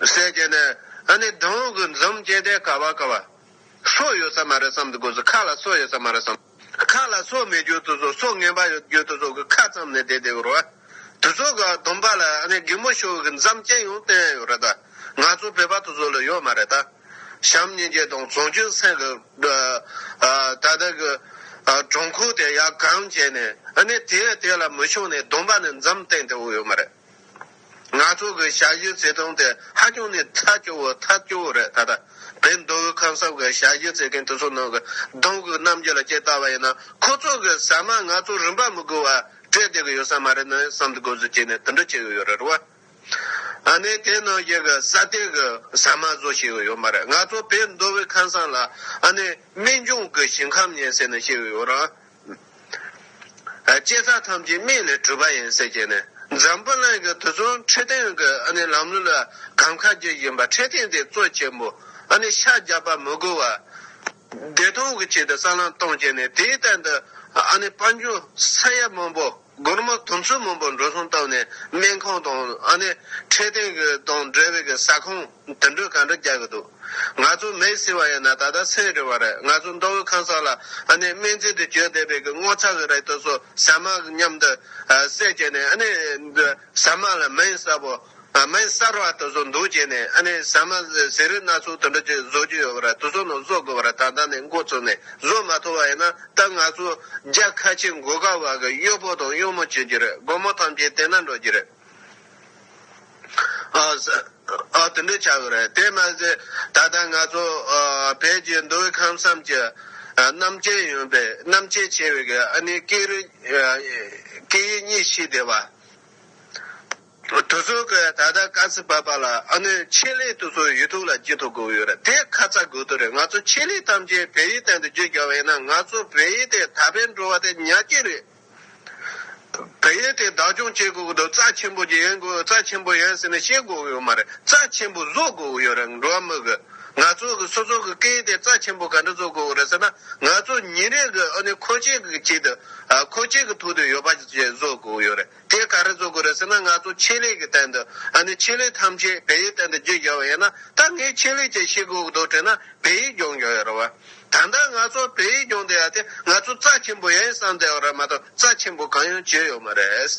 ཟས་བཅད་ནས། ཨ་ནི་སྡོང་གི་འཛུམ་བཅད་དེ་ཀ་བ་ཀ་བ། སོ་ཡོད་ས་མ་རེད་བསམ་དུ་གོ་ཟོ་ཁ་ལ་སོ་ཡོད་ས་མ་རེད་བསམ། ཁ་ལ་སོ་མེད་རྒྱུ་དུ་ཟོ་སོ་ངན་པ་ཡོད་རྒྱུ་དུ་ཟོ་གི་ཁ་ཙམ་ནས་དེ་དེ་གོ་རོ། དུ་ཟོ་གི་སྡོམ་པ་ལ་ཨ་ནི་རྒན་མོ་ཤོ་གི་འཛམ་བཅད་ཡོང་བསྟན་ཡོད་རེད་ད། ང་ཚོ་བོད་པ་དུ་ཟོ་ལ་ཡོད་མ་རེད་ད། བྱམས་སྙིང་རྗེ་དང་བཟང་སྐྱོན་སེང་གི། ད་ད་གི། གྲོང་ཁུག་དེ་ཡར་གང་བྱས་ནས་ཨ་ནི་དེ་དེ་ལ་མི་ཤོང་ནས་སྡོམ་པ་ནི་འཛམ་བསྟན་དེ་འོ་ཡོད་མ་རེད། ང་ཚོ་གི་ཞབས་ཞུའི་བརྩེ་དུང་དེ་ཧ་ཅང་ནས་ཐལ་སྐྱོ་བོ་ཐལ་སྐྱོ་བོ་རེད་ད་ལྟ་བའི་མདོ་དབུས་ཁམས་གསབ་གི་ཞབས་ཞུ་བརྩེ་མཁན་དེ་ཚོ་ནང་གི་གདོང་གི་རྣམ་འགྱུར་ལ་དཔྱད་ལྟ་བ་ཡིན་ན་ཁོ་ཚོ་གི་ཟ་མ་ང་ཚོ་རིན་པ་མི་དགོས་བ་སྤྲད་བསྡད་གི་ཡོད་ས་མ་རེད་ནི་བསམ་དགོས་ཟུར་བྱས་ནས་དེ་འདྲ་བྱས་གི་ཡོད་རེད་བ། ཨ་ནི་དེ་ནང་བཞིན་གི་ས་སྟེང་གི་ཟ་མ་བཟོ་བྱས་གི་ཡོད་མ་རེད་ང་ཚོ་བའི་མདོ་དབུས་ཁམས་སང་ལ་ཨ་ནི་སྨན་ལྗོངས་གི་ཞིང་ཁམས་ཉེན་ཟེར་ནི་བཤད་གི་ཡོད་རང། བསྐྱེད་རྩ་ཐམས་ཅད་མིག་ལས་གྲུབ་པ་ཡིན་ཟེར་གྱི་ནི་འཛམ་བུ་གླིང་གི་དུས་གསུམ་འཕྲོད་བསྟེན་གྱི་ལམ་ལུགས་ལ་གམ་ཁ་རྒྱུ་བཞིན་པ་འཕྲོད་བསྟེན་དེ་གཙོ་ཆེན་པོ་ཤ་རྒྱགས་པ་མི་དགོས་བར་བདེ་སྟོང་གི་ཆེད་དུ་གསར་ལམ་གཏོང་བྱས་ནས་དེའི་སྟེང་དུ་དཔའ་འབྱུང་ས་ཡ་མང་པོ། སྒོར་མོ་དུམ་བཅུ་མང་པོ་འགྲོ་སོང་བཏབ་ནས་སྨན་ཁང་དང་ཨ་ནེ། འཕྲལ་བསྟུན་གྱི་དང་འབྲེལ་བའི་ས་ཁང་དུད་འགྲོས་ག་འདྲ་རྒྱག་གི་འདུག་ང་ཚོ་མེས་ཟིན་བ་ཡིན་ན་ད་ལྟ་སེམས་རེ་བ་རེད་ང་ཚོ་མདོ་དབུས་ཁང་སར་ལ་ཨ་ནེ་སྨན་རྩིས་དུ་བསྐྱོད་བསྡད་པའི་གི་སྔོ་ཚག་གི་རེ་ལྟོས་སོ་ཟ་མ་མཉམ་དུ་ཟས་བཅད་ནས་ཨ་ནེ། ཟ་མ་ལ་མེས་བསབ་བོ། སྨན་གསར་བ་དེ་ཚོ་འདུ་བྱས་ནས་ཨ་ནི་ཟ་མ་ཟས་རིགས་སྣ་ཚོགས་དེ་འདྲ་ཅིག་བཟོ་རྒྱུ་ཡོད་པར་དེ་ཚོ་ནང་བཟོ་དགོས་པར་ད་ལྟ་ནས་མགོ་བཙུགས་ནས་བཟོ་མ་ཐུབ་པ་ཡིན་ན་ད་ང་ཚོ་རྒྱ་ཁ་ཆེ་མགོ་དཀར་བ་གི་གཡོག་པོ་དང་གཡོག་མོ་བྱེད་རྒྱུ་རེད་སྒོར་མོ་ཐམས་ཅད་དེ་ན་འགྲོ་རྒྱུ་རེད། ཨོ་དེ་འདྲ་བྱ་དགོས་རེད་དེ་མ་ཟད་ད་ལྟ་ང་ཚོ་བོད་ཀྱི་མདོ་དབུས་ཁམས་གསུམ་གྱི་རྣམ་མཁྱེན་ཡོན་པའི་རྣམ་མཁྱེན་ཆེ་བའི་གི་ཨ་ནི་སྐད་རིགས་སྐད་ཡིག་གཉིས་ཤིག་དེ་བ། གྲོས་ཚོགས་ཀྱི་ད་ལྟ་དཀའ་ཚེགས་བབས་པ་ལ་ཨ་ནུས་ཆེད་ལས་དུ་སོ་ཡུལ་ཐུག་ལ་སྐྱིད་ཐུབ་དགོས་ཡོད་རེད་དེ་ཁ་ཚ་དགོས་དོན་རེད་ང་ཚོ་ཆེད་ལས་ཐམས་ཅད་བལ་ཡུལ་སྟེང་དུ་བརྗོད་རྒྱག་པ་ཡིན་ན་ང་ཚོ་བལ་ཡུལ་དེ་ད་ཕན་འགྲོ་བ་དེ་ཉག་ཅིག་རེད་བལ་ཡུལ་དེ་བདག་སྐྱོང་བྱེད་དགོས་ཀྱི་འདུག་རྩ་ཆེན་པོ་ཡོན་དགོས་རྩ་ཆེན་པོ་ཡོན་ཟེར་ནས་བཤད་དགོས་ཀྱི་ཡོད་མ་རེད་རྩ་ཆེན་པོ་བཟོ་དགོས་ཀྱི་ཡོད་རེད་འགྲོ་བ་མི་གི་ང་ཚོ་གི་སོ་སོ་གི་སྐད་ཡིག་དེ་རྩ་ཆེན་པོ་ག་འདྲ་བཟོ་དགོས་ཀྱི་རེད་ཟེར་ན་ང་ཚོ་ཉིན་རེ་གི་ཨ་ནུས་ཁོ་ཆེད་ཀྱི་ཆེད་དུ་ཨ་ཁོ་ཆེད་ཀྱི་ཐུག་དུ་ཡོད་པ་བཅས་བཟོ་དགོས་ཀྱི་ཡོད་རེད། དེ་ག་རེ་བཟོ་དགོས་རེད་ཟེར་ན་ང་ཚོ་ཆེད་ལས་ཀྱི་སྟེང་དུ་ཨ་ནི་ཆེད་ལས་ཐམས་ཅད་བལ་ཡུལ་སྟེང་དུ་བསྒྱུར་འགྱག་བ་ཡིན་ན་ད་ངས་ཆེད་ལས་ཀྱི་ཤེལ་སྒོ་རྡོ་བྲེག་ན་བལ་ཡུལ་སྒྱོག་འགྱོག་ཡོད་རེད་བ། ད་ལྟ་ང་ཚོ་བལ་ཡུལ་སྒྱོག་འདི་ཡ་དེ་ང་ཚོ་རྩ་ཆེན་པོ་ཡ་ཡི་བསམ་སྟེ་ཡོད་རེད་མ་གཏོགས་རྩ་ཆེན་པོ་གང་ཡང་བྱས་ཡོད་མ་རེད།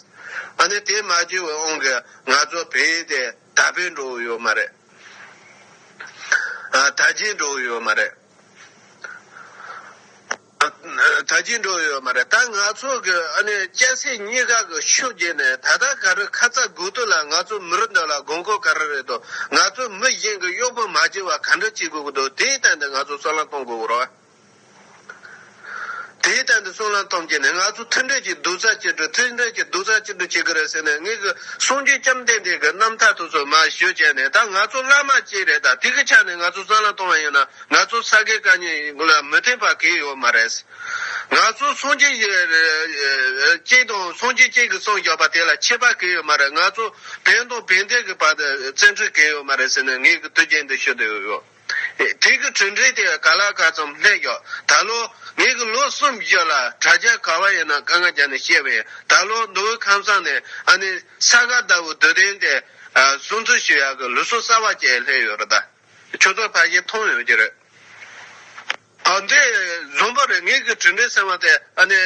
ཨ་ནི་དེ་མ་བྱས་བའི་དབང་གིས་ང་ཚོ་བལ་ཡུལ་དེ་ད་བལ་འགྲོ་འོས་ཡོད་མ་རེད། ད་རྗེས་འགྲོ་འོས་ཡོད་མ་རེད། ད་ཅི་འགྲོ་ཡོད་མ་རེད་ད་ང་ཚོ་གི་ཨ་ནེ་སྐྱ་སེར་གཉིས་ཀ་གི་ཤུགས་རྒྱས་ནས་ད་ལྟ་ག་རེ་ཁ་ཚ་དགོས་གཏུགས་ལ་ང་ཚོ་མི་རིགས་འདི་ལ་དགོས་མཁོ་ག་རེ་རེད་དོ་ང་ཚོ་མི་གཞན་གི་གཡོག་པོ་མ་བྱེད་བ་ག་འདྲ་བྱེད་དགོས་ཀྱི་འདུག་དེའི་སྟེང་དུ་ང་ཚོ་སྲོག་ལན་གཏོང་དགོས་ཀྱི་རོ། དེའི་སྟེང་དུ་སྲོག་ལན་ཐོམ་གྱི་ནས་ང་ཚོ་མཐུན་སྒྲིལ་གྱིས་སྡུག་རྩ་ཆེ་དྲུག་མཐུན་སྒྲིལ་གྱིས་སྡུག་རྩ་ཆེ་དྲུག་བྱེད་ཀྱི་རེད་ཟེར་ནས་ངེད་ཀྱི་གསུང་རྒྱུན་བཅོམ་ལྡན་འདས་ཀྱི་རྣམ་ཐར་དུ་སོ་མ་ཞུ་བྱས་ནས་ད་ང་ཚོ་བླ་མ་གཅིག་རེད་ད་དེ་གི་ཆ་ནས་ང་ཚོ་སྲོག་ལན་གཏོང་བ་ཡིན་ན་ང་ཚོ་ས་དགེ་བཀའ་རྙིང་ལ་མི་བརྟེན་པ་གས་ཡོད་མ་རེད། ང་ཚོ་སངས་རྒྱས་གཅིག་དང་སངས་རྒྱས་གཅིག་གི་སངས་རྒྱག་པ་དེ་ལ་ཆད་པ་གས་ཡོད་མ་རེད། ང་ཚོ་བན་དང་བན་དེ་གི་བར་བཙན་འཁྲུལ་གས་ཡོད་མ་རེད་ཟེར་ནས་ངས་གི་དུས་རྒྱན་འདི་ཞུ་དུས་ཡོད། དེ་གི་གྲུ་འགྲིག་དེ་ག་ལ་ག་ཙམ་ལྷད་རྒྱག་ད་ལོ་ངས་གི་ལོ་གསུམ་བཞི་ལ་དྲ་རྒྱ་ག་བ་ཡིན་ན་དཀའ་ངལ་རྒྱག་ནས་བཤད་བས་ད་ལོ་མདོ་དབུས་ཁམས་སངས་ནས་ཨ་ནི་ས་ག་ཟླ་བུ་དུས་དྲན་དེ་སྲུང་བརྩི་ཞུ་ཡག་གི་ལུས་སྲོག་གསར་བ་བསྐྱལ་ལྷད་ཡོད་རེད་ད། ཁྱོད་ཚོ་ཕལ་ཆེར་མཐོང་ཡོད་ཀྱི་རེད། ཨ་འདི་རྫོང་པ་རེད་ངེད་ཀྱི་གྲོས་འབྲེལ་ཟེར་བ་དེ་ཨ་ནི།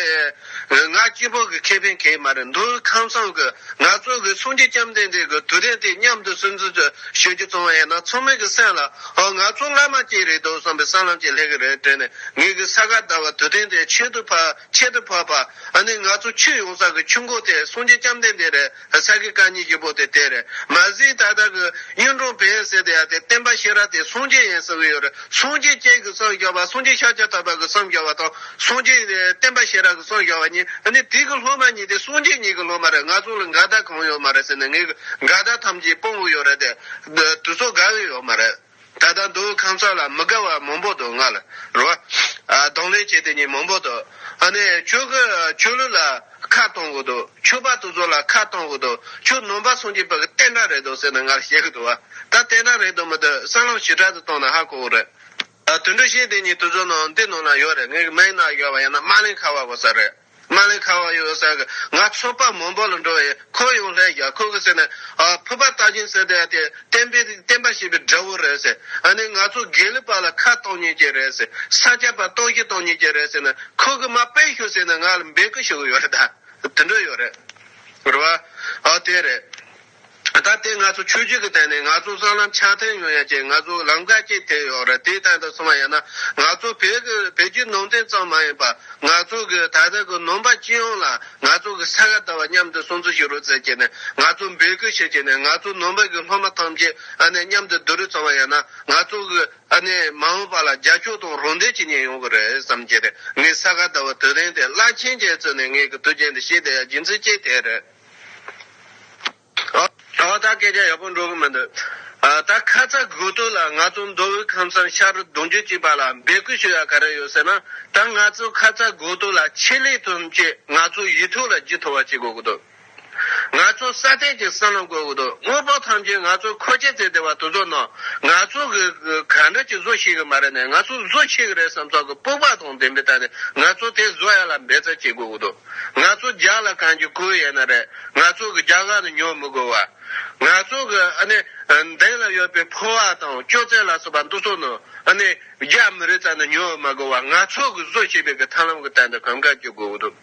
ང་སྐྱིད་པོ་གི་ཁེ་ཕན་གྱིས་མ་རེད་འདུག་ཁམས་བཟང་གི་ང་ཚོ་གི་སུང་རྗེ་ལྕམ་ལྡན་འདས་ཀྱི་དུས་དྲན་དེ་མཉམ་དུ་སུན་གཙི་བྱོས་རྒྱུ་བཙོང་བ་ཡིན་ན་ཚང་མའི་གི་སེམས་ལ་ཨོ་ང་ཚོ་བླ་མ་གཅིག་རེད་འདུག་བསམ་པའི་ས་ལམ་གྱི་ལྷེ་གི་རེད་དྲན་ནས་ངེད་ཀྱི་ས་ག་ཟླ་བ་དུས་དྲན་དེ་ཆེད་དུ་ཕ་ཁྱད་དུ་འཕགས་པ་ཨ་ནི་ང་ཚོ་ཆུ་ཡོང་ས་གི་ཆུ་མགོ་དེ་སུང་རྗེ་ལྕམ་ལྡན་འདས་རེད། ས་གི་བཀའ་ཉིད་ཀྱི་པོ་ཏི་དེར་མ་ཟིན་ད་ལྟ་གི་གཡུང་དྲུང་བོན་གསེར་ཏི་ཡ་དེ་བསྟན་པ་ཤེས་རབ་དེ་སངས་རྒྱས་ཡིན་ཟེར་གི་ཡོད་རེད་སངས་རྒྱས་སྐྱེས་ཀྱི་སངས་རྒྱས་པ་སངས་རྒྱས་ཤཱཀྱ་ཐུབ་པ་གི་སངས་རྒྱས་པ་དང་སངས་རྒྱས་བསྟན་པ་ཤེས་རབ་གི་སངས་རྒྱས་པ་གཉིས་ཨ་ནི་དུས་ཀྱི་སློབ་མ་གཉིས་དེ་སངས་རྒྱས་གཉིས་ཀྱི་སློབ་མ་རེད་ང་ཚོ་ལ་འགལ་ཟླ་གང་ཡོད་མ་རེད་ཟེར་ནས་ངས་འགལ་ཟླ་ཐམས་ཅད་སྤོང་གི་ཡོད་རེད་དེ་དུས་ཚོད་དགའ་གི་ཡོད་མ་རེད། ད་ལྟ་མདོ་དབུས་ཁམས་གསར་ལ་མི་དགའ་བ་མང་པོ་འདུག་ང་ལ་རོ། གདོང་ལེན་བྱེད་དེ་ཉིད་མང་པོ་འདུག། ཨ་ནི་ཁྱོད་ཀྱི་ཆོས་ལུགས་ལ་ཁ་གཏོང་གི་འདུག་ཁྱོད་པ་དུ་ཚོ་ལ་ཁ་གཏོང་གི་འདུག་ཁྱོད་ནོམ་པ་སོང་རྗེས་བོད་ཀྱི་ཏན་ཏྲ་རེད་འདུག་ཟེར་ནས་ང་ལ་བཤད་ཀྱི་འདུག་བ། ད་ཏན་ཏྲ་རེད་འདུག་མི་འདུག་གསར་ལམ་ཞི་དྲག་ཏུ་གཏོང་ན་ཧ་གོ་གི་རེད། དུད་འགྲོ་གཞན་དེ་ཉིད་དུ་ཚོ་ནང་འདི་ནང་ན་ཡོད་རེད་ངའི་མའི་ནང་ཡོད་བ་ཡང་ན་དམག་ལན་ཁ་བ་གོ་ས་རེད། མ་ལེ་ཁ་བ་ཡོད་ས་གི་ང་ཚོ་པ་མོ་འབོ་ལ་འགྲོ་ཡི་ཁོ་ཡོང་སླད་རྒྱ་ཁོ་གི་ཟེར་ནས་ཨ་ཕོ་པ་ལྟ་གྱིན་ཟེར་དེ་དེ་བསྟན་པའི་བསྟན་པ་ཞེས་པའི་འདྲ་བོ་རེད་ཟེར་ཨ་ནི་ང་ཚོ་དགེ་ལི་པ་ལ་ཁ་གཏོང་ཉེས་ཀྱི་རེད་ཟེར་ས་སྐྱ་པ་གཏོང་གི་གཏོང་ཉེས་ཀྱི་རེད་ཟེར་ནས་ཁོ་གི་མ་སྤེལ་ཞུ་ཟེར་ནས་ང་ལ་འབེད་ཀི་ཞུ་གི་ཡོད་རེད་ད་དེ་འདྲ་ཡོད་རེད་རེད་བ་ཨ་དེ་རེད། ད་ལྟ་དེ་ང་ཚོ་ཆོས་བརྒྱུད་ཀྱི་སྟེང་ནས་ང་ཚོ་སྲང་ལམ་ཆགས་ཐེངས་ཡོད་ཡ་ཅེས་ང་ཚོ་ལམ་ཀ་ཅིག་ཐེག་ཡོད་རེད་དེའི་སྟེང་དུ་སོང་བ་ཡིན་ན་ང་ཚོ་བོད་ཀྱི་བོད་བརྒྱུད་ནང་བསྟན་ཙམ་མ་ཡིན་པ་ང་ཚོ་གི་ད་ལྟ་གི་ནོམ་པ་སྤྱི་ཡོངས་ལ་ང་ཚོ་གི་ས་ག་ཟླ་བ་མཉམ་དུ་སྲུང་བརྩི་ཞུ་རུ་ཟེར་ཅེས་ནས་ང་ཚོ་འབོད་སྐུལ་བྱེད་ཅེས་ནས་ང་ཚོ་ནོམ་པ་གི་སློབ་མ་ཐམས་ཅད་ཨ་ནེ་མཉམ་དུ་བསྡུ་རུ་ཚང་བ་ཡིན་ན་ང་ཚོ་གི་ཨ་ནེ་མ་འོངས་པ་ལ་རྒྱ་ཕྱུག་དང་རོང་འདྲེ་ཇི་སྙེད་ཡོང་གི་རེད་བསམ་གྱི་རེད་ངས་ས་ག་ཟླ་བ་དུས་དེང་དེ་བླ་ཆེན་རྒྱལ་བཙུན་ནས་ངས་གི་དུས་ཆེན་འདི་ཤེས་བསྡད་ཡ་སྦྱིན་བསྲི་བྱས་ཐེངས་རེར། ཨོ་ད་སྐད་ཆ་ཡག་པོ་འགྲོ་གི་མི་འདུག་ད་ཁ་ཚ་དགོས་གཏུགས་ལ་ང་ཚོ་མདོ་དབུས་ཁམས་སམ་ཤར་གདོང་རྒྱུད་གཅིག་པ་ལ་འབད་སྐུལ་ཞུ་ཡ་ག་རེ་ཡོད་ཟེར་ན་ད་ང་ཚོ་ཁ་ཚ་དགོས་གཏུགས་ལ་ཆེད་ལས་ཐོན་བཅས་ང་ཚོ་ཡིད་ཐུགས་ལ་ཇི་ཐུགས་བ་བྱེད་དགོས་གི་འདུག་ང་ཚོ་སྲ་བརྟན་གྱི་སྲང་ལམ་དགོས་གི་འདུག་དངོས་པོ་ཐམས་ཅད་ང་ཚོ་མཁོ་ཆས་རྩེ་དེ་བ་དུ་ཚོ་ན་ང་ཚོ་གི་ག་འདྲ་གྱི་བཟོ་ཤེས་གི་མ་རེད་ནས་ང་ཚོ་བཟོ་ཤེས་གི་རེད་བསམ་ཚོགས་གི་སྤོབས་པ་དང་ལྡན་པའི་ཐ་ནས་ང་ཚོ་དེ་བཟོ་ཡ་ལ་འབད་རྩལ་བྱེད་དགོས་གི་འདུག། ང་ཚོ་རྒྱ་ལ་གང་གི་ཁུལ་ཡིན་ན་རེད་ང་ཚོ་གི་རྒྱ་གར་ནི་ཉོ་མི་དགོས་བ། ང་ཚོ་གི་ཨ་ནི་མདེན་ལ་ཡོད་པའི་ཕོ་བ་དང་སྐྱོ་ཙེ་ལ་སོགས་པ་འདུ་ཚོགས་ནི་ཨ་ནི་རྒྱ་མི་རིགས་ཙམ་ནི་ཉོ་མ་དགོས་བ་ང་ཚོ་གི་བཟོ་བྱས་པའི་གི་ཐང་ལམ་གི་སྟེང་དུ་གང་ག་གི་དགོས་འདུག་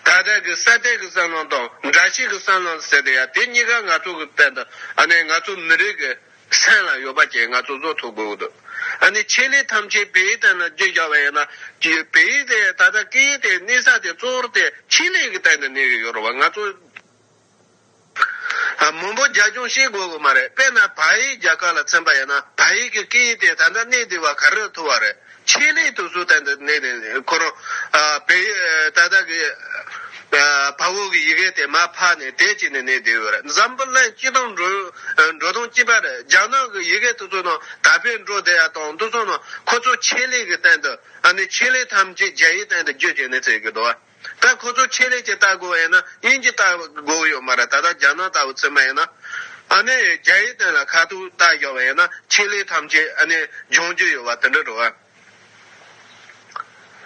ད་ལྟ་གི་ས་དེ་གི་སྲང་ལམ་དང་འདྲ་བྱེད་གི་སྲང་ལམ་ཟེར་དེ་ཡ་དེ་གཉིས་ཀ་ང་ཚོ་གི་སྟེང་དུ་ཨ་ནི་ང་ཚོ་མི་རིགས་གི། སེམས་ལ་ཡོད་པ་ཅན་ང་ཚོ་བཟོ་ཐུབ་དགོས་འདུག་ཨ་ནི་ཆེད་ལས་ཐམས་ཅད་བེ་ཡི་སྟེང་ན་རྒྱུ་བཞག་པ་ཡིན་ན་བེ་ཡི་དེ་ད་ལྟ་སྐད་ཡིག་དེ་གནས་ས་དེ་གཙོ་བོར་དེ་ཆེད་ལས་ཀྱི་སྟེང་ན་གནས་ཀྱི་ཡོད་རུང་བ་ང་ཚོ་མང་པོ་རྒྱ་སྐྱོང་བྱེད་དགོས་ཀྱི་མ་རེད་དཔེར་ན་བ་ཡིག་རྒྱ་གར་ལ་ཚན་པ་ཡིན་ན་བ་ཡིག་གི་སྐད་ཡིག་དེ་ད་ལྟ་གནས་དེ་བ་ག་རེ་ལ་ཐུག་བ་རེད། ཆེད་ལས་དུ་སུ་དན་དུ་གནས་ནས་འཁོར་རོ། བལ་ཡུལ་ད་ལྟ་གི་བལ་བོ་གི་ཡི་གེ་དེ་མ་ཕག་ནས་དད་ཅིག་ནས་གནས་དེ་བོད་འཛམ་བུ་གླིང་སྤྱི་སྟངས་འགྲོ་འགྲོ་སྟངས་སྤྱི་པར་རྒྱ་ནག་གི་ཡི་གེ་དུ་ཚོ་ནང་ད་བལ་འགྲོ་དེ་ཡ་དང་དུ་ཚོ་ནང་ཁོ་ཚོ་ཆེད་ལས་གི་སྟེང་དུ་ཆེད་ལས་ཐམས་ཅད་རྒྱ་ཡི་སྟེང་དུ་རྒྱུ་ཅིག་ནས་ཟེར་གི་འདུག་བ། ད་ཁོ་ཚོར་ཆེད་ལས་ཀྱི་ལྟ་དགོས་ཡིན་ན་དབྱིན་ཇི་ལྟ་དགོས་ཡོད་མ་རེད་ད་ལྟ་རྒྱ་ནག་ལྟ་བུ་ཚུད་མ་ཡིན་ན། ཨ་ནི་རྒྱ་ཡི་དོན་ལ་ཁ་ཐུག་ལྟ་ཞོག་པ་ཡིན་ན་ཆེད་ལས་ཐམས་ཅད་ཨ་ནི་སྦྱོང་རྒྱུ་ཡོད་པ་དེ་འདྲ་རེད།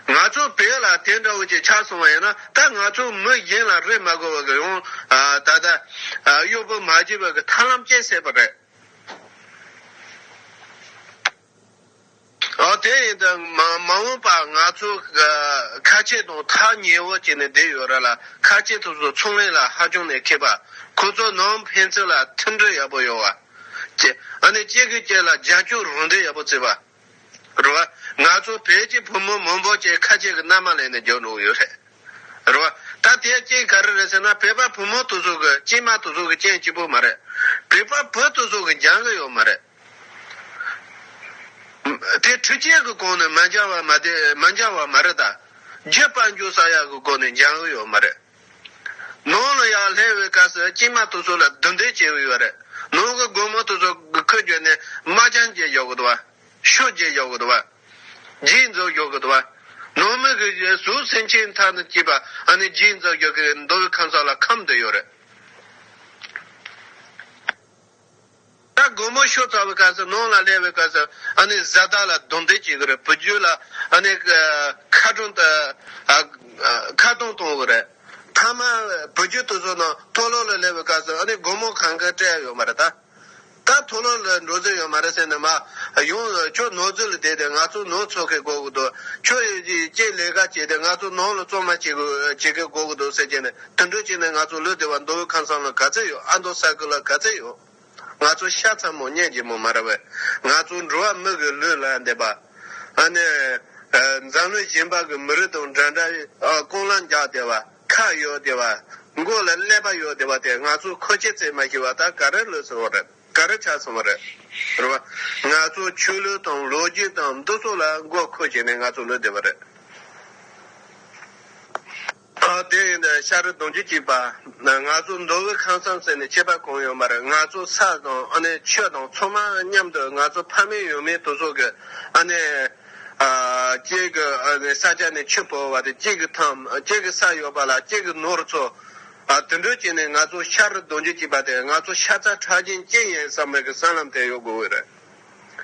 ང་ཚོ་བོད་ལ་དེ་འདྲ་བོ་ཅིག་ཆགས་སོང་བ་ཡིན་ན་ད་ང་ཚོ་མི་གཞན་ལ་རེ་མ་དགོས་པ་གི་ཡང་ད་ལྟ་གཡོག་པོ་མ་བྱེད་པ་གི་ཐར་ལམ་བསྐྱལ་སྲིད་པ་རེད། ཨོ་དེ་ཡིན་ད། མ་འོངས་པ་ང་ཚོ་ཁ་ཆེ་དང་ཐག་ཉེ་བོ་བྱས་ནས་བསྡད་ཡོད་ར་ལ་ཁ་ཆེ་ཚོ་ཚོ་ཚོང་ལས་ལ་ཧ་ཅང་ནས་མཁས་པ། ཁོ་ཚོ་ནང་ཕན་ཚུན་ལ་མཐུན་སྒྲིལ་ཡག་པོ་ཡོད་བ། གཅིག་ཨ་ནི་གཅིག་གི་གཅིག་ལ་རྒྱ་སྐྱོག་རུང་འབྲེལ་ཡག་པོ་བརྩི་བ། རེད་བ། ང་ཚོ་བོད་ཀྱི་བུ་མོ་མང་པོ་བཅས་ཁ་ཆེ་གི་མནའ་མ་ལེན་ནས་རྒྱོ་འགྲོ་གི་ཡོད་རེད། རེད་བ། ད་དེ་གཅིག་ག་རེ་རེད་ཟེར་ན་བོད་པ་བུ་མོ་དེ་ཚོ་གི་གཅིག་མ་དེ་ཚོ་གི་སྐྱེན་གཅིག་པོ་མ་རེད། བོད་པ་བུ་དེ་ཚོ་གི་འགྱང་གི་ཡོད་མ་རེད། དེ་འཕྲུལ་ཆས་ཀྱི་གོང་ནས་མ་འབྱར་བ་མ་དེ་མ་འབྱར་བ་མ་རེད་ད། རྒྱུད་དཔལ་འབྱོར་ས་ཡག་གི་སྒོ་ནས་འབྱང་གི་ཡོད་མ་རེད། ནང་ལ་ཡག་ལྷེ་བའི་སྐབས་སུ་སྐྱེས་མ་དེ་ཚོ་ལ་རྡུང་རྡེག་བྱེད་གི་ཡོད་རེད། ནང་གི་སྒོར་མོ་དེ་ཚོ་ཁུ་བརྒྱུད་ནས་དམག་རྒྱང་བརྒྱད་རྒྱག་གི་འདུག་བ། ཤོག་བརྒྱད་རྒྱག་གི་འདུག་བ། རྗེས་འཛུགས་རྒྱག་གི་འདུག་བ། ནང་མི་གི་གཟུགས་སེམས་ཆེས་མཐའ་ན་སྐྱིད་པ་ཨ་ནི་རྗེས་འཛུགས་རྒྱག་གི་འདུག་བའི་ཁམས་ས་ལ་ཁམས་དེ་ཡོད་རེད། ད་སྒོར་མོ་ཤོར་ཚར་བའི་སྐབས་སུ་ནང་ལ་སླེབས་པའི་སྐབས་སུ་ཨ་ནེ་བཟའ་ཟླ་ལ་རྡུང་རྡེག་བྱེད་ཀྱི་རེད་བུ་རྒྱུད་ལ་ཨ་ནེ་ཁ་གྲོང་དུ་ཁ་གཏོང་གཏོང་གི་རེད། མཐའ་མ་བུ་རྒྱུད་དུ་སོང་ནང་མཐོ་སློབ་ལ་སླེབས་པའི་སྐབས་སུ་ཨ་ནེ་སྒོར་མོ་གང་གི་སྤྲད་ཡོད་མ་རེད་ད། ད་མཐོ་སློབ་ལ་འགྲོ་རྩིས་ཡོད་མ་རེད་ཟེར་ནས་མ་ཡོང་ཁྱོད་ནོར་འཛོལ་ལ་བསྡད་དེ་ང་ཚོ་ནོར་འཚོལ་མཁན་གོ་གི་འདུག་ཁྱོད་ཀྱིས་ལས་ཀ་བྱས་ཏེ་ང་ཚོ་ནང་ལ་བཙོང་མ་བྱེད་མཁན་གོ་གི་འདུག་ཟེར་གྱི་ནས་དུད་འགྲོ་གཅིག་ནས་ང་ཚོ་བློས་བདེ་བ་མདོ་དབུས་ཁམས་གསང་ལ་ག་ཚད་ཡོད་ཨ་མདོ་ས་ཁུལ་ལ་ག་ཚད་ཡོད། ང་ཚོ་ཤ་ཚ་མོ་གཉན་གྱི་མོ་མ་ར་བས་ང་ཚོ་འགྲོ་བ་མི་གི་ལུས་ལ་འདེབས་པ། ཨ་ནེ། འཛམ་གླིང་གཞན་པ་གི་མི་རིགས་དང་འདྲ་འདྲ་ཀོང་ལ་འཇགས་བདེ་བ་ཁ་ཡོད་བདེ་བ། མགོ་ལ་ཀླད་པ་ཡོད་བདེ་བ་དེ་ང་ཚོ་ཁོ་ཁྱེད་ཚེ་མ་ཤི་བ་དག་ག་རེ་ལུས་སོང་བ་རེད་ག་རེ་ཆགས་སོང་བ་རེད། རེད་བ། ང་ཚོ་ཆོས་ལུགས་དང་ལོ་རྒྱུས་དང་འདི་ཚོ་ལ་མགོ་ཁུར་བྱས་ནས་ང་ཚོ་བློས་བདེ་བ་རེད། སྐབས་དེ་ཡིན་དུས་ཤ་རུ་དུང་ཆུ་གཅིག་པ། ང་ཚོ་མདོ་དབུས་ཁང་བསམ་ཟེར་ནས་ཆད་པ་གང་ཡོད་མ་རེད་ང་ཚོ་ས་དང་ཨ་ནེ་ཆོས་དང་ཚོགས་མང་མཉམ་དུ་ང་ཚོ་ཕ་མེས་ཡུལ་མེས་དུ་ཟོག་གི་ཨ་ནེ། གཅིག་གི་ཨ་ནེ་ས་ཆ་ནས་ཆུ་བོར་བ་དང་གཅིག་གི་ཐང་གཅིག་གི་ས་ཡོད་པ་ལ་གཅིག་གི་ནོར་ཚོ། དུད་འགྲོ་བྱས་ནས་ང་ཚོ་ཤ་རུ་དུང་ཆུ་གཅིག་པ་དེ་ང་ཚོ་ཤ་ཚ་ཁྲག་སྦྱིན་ཅི་ཡིན་བསམ་མེད་ཀྱི་སྲང་ལམ་དེར་ཡོད་དགོས་ཀྱི་རེད།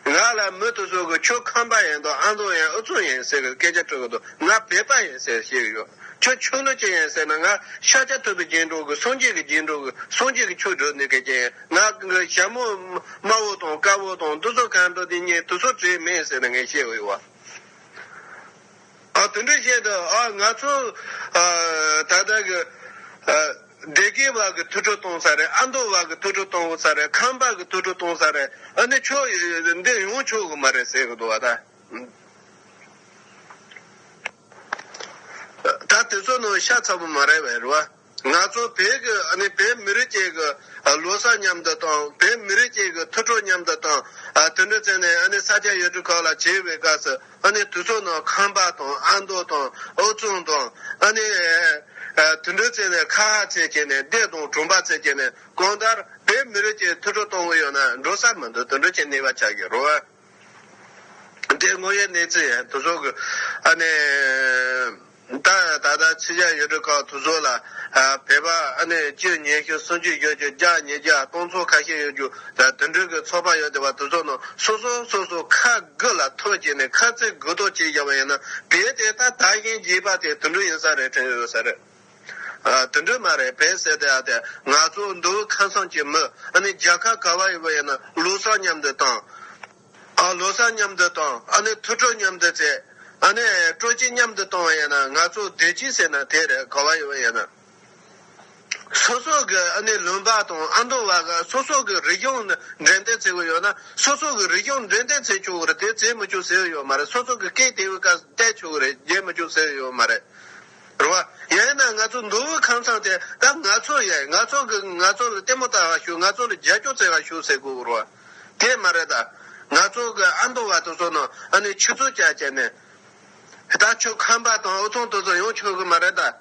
ང་ལ་མུ་མཐུད་སོ་གི་ཁྱོད་ཁམས་པ་ཡིན་དང་ཨ་མདོ་ཡིན་ཨུ་ཚུགས་ཡིན་ཟེར་གི་སྐད་ཆ་དྲི་གི་འདུག་ང་བོད་པ་ཡིན་ཟེར་བཤད་གི་ཡོད་ཁྱོད་ཆོས་ལུགས་ཅན་ཡིན་ཟེར་ན་ང་ཤ་ཆ་ཐུབ་པའི་རྗེས་འགྲོ་གི་སངས་རྒྱས་ཀྱི་རྗེས་འགྲོ་གི་སངས་རྒྱས་ཀྱི་ཆོས་སྒྲོས་འདི་གལ་ཆེན་ང་གི་ཞྭ་མོ་དམར་བོ་དང་དཀར་བོ་དང་འདི་ཚོ་གང་འགྲོ་འདི་གཉིས་དུ་ཚོ་བྲེལ་མེད་ཟེར་ནས་ངས་བཤད་གི་ཡོད། དུད་འགྲོའི་ཆེད་དུ་ང་ཚོ་ད་ལྟ་གི་སྡེ་དགེ་བ་གི་ཐུགས་སྤྲོ་གཏོང་ས་རེད་ཨ་མདོ་བ་གི་ཐུགས་སྤྲོ་གཏོང་ས་རེད་ཁམས་པ་གི་ཐུགས་སྤྲོ་གཏོང་ས་རེད་ཨ་ནི་ཆོས་འདི་ཡོང་ཆོག་གི་མ་རེད་ཟེར་གི་འདུག་བ་ད། ད་དེ་ཚོ་ནང་ཤ་ཚ་པོ་མ་རེད་བས་རེད་བ། ང་ཚོ་བོད་མི་རིགས་ཅིག་གི་ལོ་སར་མཉམ་དུ་དང་བོད་མི་རིགས་ཅིག་གི་ཐུགས་སྤྲོ་མཉམ་དུ་དང། དུད་འགྲོ་ཚང་ནས་ས་སྐྱ་ཡུལ་གྲུ་ཁག་ལ་བྱེའུ་བའི་སྐབས་སུ་དུས་ཚོགས་ནང་ཁམས་པ་དང་ཨ་མདོ་དང་ཨུ་ཚུགས་དང། དུད་འགྲོ་ཚང་ནས་ཁ་ཧ་ཚད་བྱས་ནས་བསྡད་དང་གྲོང་པ་ཚད་བྱས་ནས་གང་ལྟར་བོད་མི་རིགས་ཀྱི་ཐུགས་སྤྲོ་གཏོང་གི་ཡོད་ན་འགྲོ་ས་མི་འདུག་དུད་འགྲོ་ཁྱེད་གནས་པ་ཆགས་ཀྱི་རོལ་བ། འདྲེ་དངོས་ཡོད་གནས་ཚུལ་ཡང་དུ་ཟོག་གིས་ད་ད་ལྟ་ཕྱི་རྒྱ་ཡོད་གྲོལ་ཁག་དུ་ཟོག་ལ་བོད་པ་སྤྱོད་ཉེས་ཞུ་གསུང་ཆོས་ཡོད་རྒྱུ་རྒྱག་ཉེས་རྒྱག་གཏོང་ཚོགས་ཁ་ཤས་ཡོད་རྒྱུ་དོན་གྲོས་ཀྱི་ཚོགས་པ་ཡོད་དེ་བ་དུ་ཟོག་ནང་སོ་སོ་སོ་སོ་ཁ་དགུ་ལ་ཐོ་བྱས་ནས་ཁ་རྩིས་གུ་དོག་བྱས་བཞག་པ་ཡིན་ན་དེའི་ཐད་ད་ད་བཞིན་བྱས་པ་དེ་དོན་གྲོས་ཡིན་ས་རེད་དྲན་ཡོད་ས་རེད། དུད་འགྲོ་མ་རེད་བེ་ཟེར་ཏེ་ཨ་དེ་ང་ཚོ་མདོ་དབུས་ཁ་སང་གྱི་མི་ཨ་ནི་རྒྱ་ཁ་ག་བ་ཡི་བུ་ཡིན་ན་ལོ་གསར་མཉམ་དུ་དང། ཨ་ལོ་གསར་མཉམ་དུ་དང་ཨ་ནི་ཐུ་སྤྲོ་མཉམ་དུ་བྱེད་ཨ་ནི་སྤྲོ་སྐྱིད་མཉམ་དུ་གཏོང་བ་ཡིན་ན་ང་ཚོ་བདེ་སྐྱིད་ཟེར་ན་དེ་རེད་ག་བ་ཡི་བུ་ཡིན་ན་སོ་སོ་གི་ཨ་ནི་ལུང་པ་དང་ཨ་མདོ་བ་ག་སོ་སོ་གི་རིག་གཞུང་འགྲན་ལྡན་ཚེ་གུ་ཡོད་ན་སོ་སོ་གི་རིག་གཞུང་འགྲན་ལྡན་ཚེ་ཆོག་གི་རེད་དེ་ཚེ་མི་ཆོག་ཟེར་ཡོད་མ་རེད་སོ་སོ་གི་སྐད་དེ་བས་ཀ་བལྟས་ཆོག་གི་རེད་རྒྱས་མི་ཆོག་ཟེར་ཡོད་མ་རེད། རེད་བ། ཡང་ན་ང་ཚོ་མདོ་དབུས་ཁང་ཚང་དེ་ད་ང་ཚོ་ཡས་ང་ཚོ་གི་ང་ཚོ་ལ་ལྟད་མོ་ལྟ་ག་ཞུ་ང་ཚོ་ལ་རྒྱ་ཁྱོ་ཚེ་ག་ཞུ་ཟེར་དགོས་རེད་བ། དེ་མ་རེད་ད། ང་ཚོ་གི་ཨ་མདོ་བ་དེ་ཚོ་ནང་ཨ་ནི་ཆུ་ཚོད་བརྒྱ་བྱས་ནས། ད་ཁྱོ་ཁམས་པ་དང་ཨུ་ཚང་དེ་ཚོ་ཡོང་ཆོག་གི་མ་རེད་ད།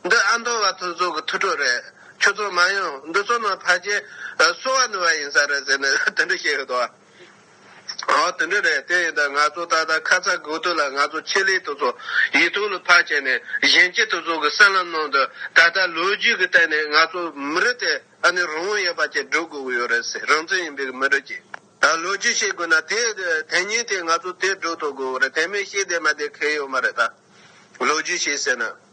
འདི་ཨ་མདོ་བ་དེ་ཚོ་གི་ཐུགས་ཁྲོ་རེད་ཁྱོ་ཚོ་མ་ཡོང་འདི་ཚོ་ནང་ཕ་རྗེས་གསོ་བ་ནི་བ་ཡིན་ས་རེད་ཟེར་ནས་དེ་འདྲ་བཤད་ཡོད་དོ་བ། ཨོ་དེ་འདྲ་རེད་དེ་ཡིན་ད་ང་ཚོ་ད་ལྟ་ཁ་ཚ་དགོས་དོན་ལ་ང་ཚོ་ཆེད་ལས་དེ་ཚོ་ཡིག་ཐོག་ལ་ཕར་བྱས་ནས་གཞན་སྐྱེ་དེ་ཚོ་གི་གསལ་ལམ་ནང་དུ་ད་ལྟ་ལོ་རྒྱུས་ཀྱི་སྟེང་ནས་ང་ཚོ་མི་རིགས་དེ་ཨ་ནི་རང་དབང་ཡོད་པ་ཅིག་སྒྲུབ་དགོས་ཀྱི་ཡོད་རེད་ཟེར་རང་བཙན་ཡིན་པའི་མི་རིགས་ཀྱི་ལོ་རྒྱུས་ཤེས་དགོས་ན་དེ་དེ་ཉིན་དེ་ང་ཚོ་དེ་སྒྲུབ་ཐུབ་དགོས་ཀྱི་རེད་དེ་མིན་ཤེས་དེ་མ་དེ་ཁེལ་ཡོད་མ་རེད་ད་ལོ་རྒྱུས་ཤེས་ཟེར་ན།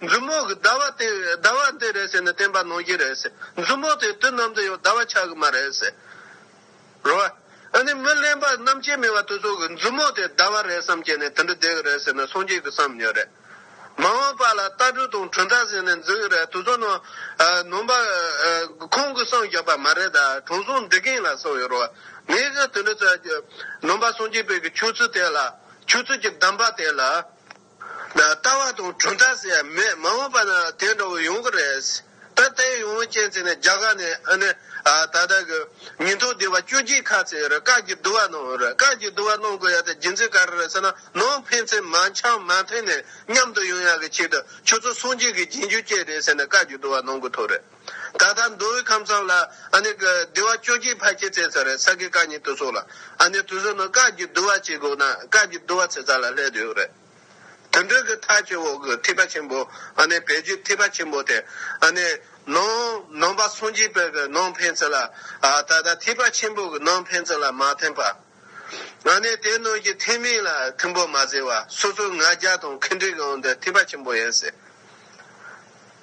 མཛུབ་མོ་གི་ཟླ་བ་དེ་ཟླ་བ་འདི་རེད་ཟེར་ནས་བསྟན་པ་ནོར་གྱི་རེད། མཛུབ་མོ་དེ་དུས་ནམ་དུ་ཡང་ཟླ་བ་ཆགས་གི་མ་རེད། རེད་བ། ཨ་ནི་མི་གླེན་པ་རྣམ་དཔྱད་མེད་བ་དེ་ཚོ་གི་མཛུབ་མོ་དེ་ཟླ་བ་རེད་བསམ་བསྐྱེད་ནས་དེ་འདྲ་བསྡད་གི་རེད་ཟེར་ནས་སངས་རྒྱས་ཀྱི་བསམ་ཉོན་རེད། མ་འོངས་པ་ལ་རྟ་སྦྲུལ་དང་གྲུ་མཐའ་ཟེར་ནས་འཛིན་གི་རེད་དེ་ཚོ་ནང་ནང་པ་ཁོང་གི་བསམ་བཞག་པ་མ་རེད་ད་དྲང་སྲོང་འདི་གིང་ལ་བསམ་ཡོད་རེད་བ། ངས་ཀྱང་དེ་འདྲ་བསམ་ནང་པ་སངས་རྒྱས་པའི་གི་ཆོས་ཚུལ་དེ་ལ་ཆོས་ཚུལ་གྱི་གདམས་པ་དེ་ལ། ལྟ་བ་དང་གྲུབ་མཐའ་ཟེར་ཡ་མེད་མ་འོངས་པ་ན་དེ་འདྲ་བོ་ཡོང་གི་རེད། ད་ལྟའི་ཡོང་བོ་ཅན་ཚེ་ནི་རྒྱ་གར་ནས་ཨ་ནི་ད་ལྟ་གི་ཉིན་ཐོ་བདེ་བ་བཅུ་གཅིག་ཁ་ཚེ་ཡོད་རེད་བཀག་གྱི་བསྡུ་བ་གནང་ཡོད་རེད་བཀག་གྱི་བསྡུ་བ་གནང་དགོས་ཡ་ད་རྒྱུ་མཚན་ག་རེ་རེད་ཟེར་ན་ནང་ཕན་ཚན་མ་འཆང་མ་མཐུན་ནས་མཉམ་དུ་ཡོང་ཡ་གི་ཆེད་དུ་ཁྱོད་ཚོ་སངས་རྒྱས་ཀྱི་རྗེས་འཇུག་སྐྱེས་རེད་ཟེར་ནས་བཀག་གྱི་བསྡུ་བ་གནང་དགོས་ཐུག་རེད། ད་ལྟ་མདོ་དབུས་ཁམས་གསུམ་ལ་ཨ་ནི་སྡེ་བ་བཅོ་བརྒྱད་ཕ་སྐད་ཚན་ས་རེད་ས་དགེ་བཀའ་ཉིན་ཏུ་སོགས་ལ་ཨ་ནི་དུས་སུ་ནི་བཀའ་བརྒྱུད་བསྡུ་བ་བྱེད་དགོས་ན་བཀའ་བརྒྱུད་བསྡུ་བ་ཚེ་ཚ་ལ་སླེབས་ཡོད་རེད། དུད་འགྲོའི་གི་ཐག་གཅོད་འོག་གི་ཐིགས་པ་ཆེན་པོ་ཨ་ནི་བེད་སྤྱོད་ཐིགས་པ་ཆེན་པོ་དེ་ཨ་ནི་ནང་ནང་པ་སངས་རྒྱས་དཔལ་གི་ནང་ཕན་ཚུན་ལ་ད་ལྟ་ཐིགས་པ་ཆེན་པོ་གི་ནང་ཕན་ཚུན་ལ་མ་ཐིམ་པ་ཨ་ནི་དེ་ནང་གི་ཐིགས་མིང་ལ་ཐིམ་པོ་མ་ཟེར་བ་སོ་སོའི་ང་རྒྱལ་དང་ཁེངས་དྲེགས་ཨང་དུ་ཐིགས་པ་ཆེན་པོ་ཡིན་སྲིད།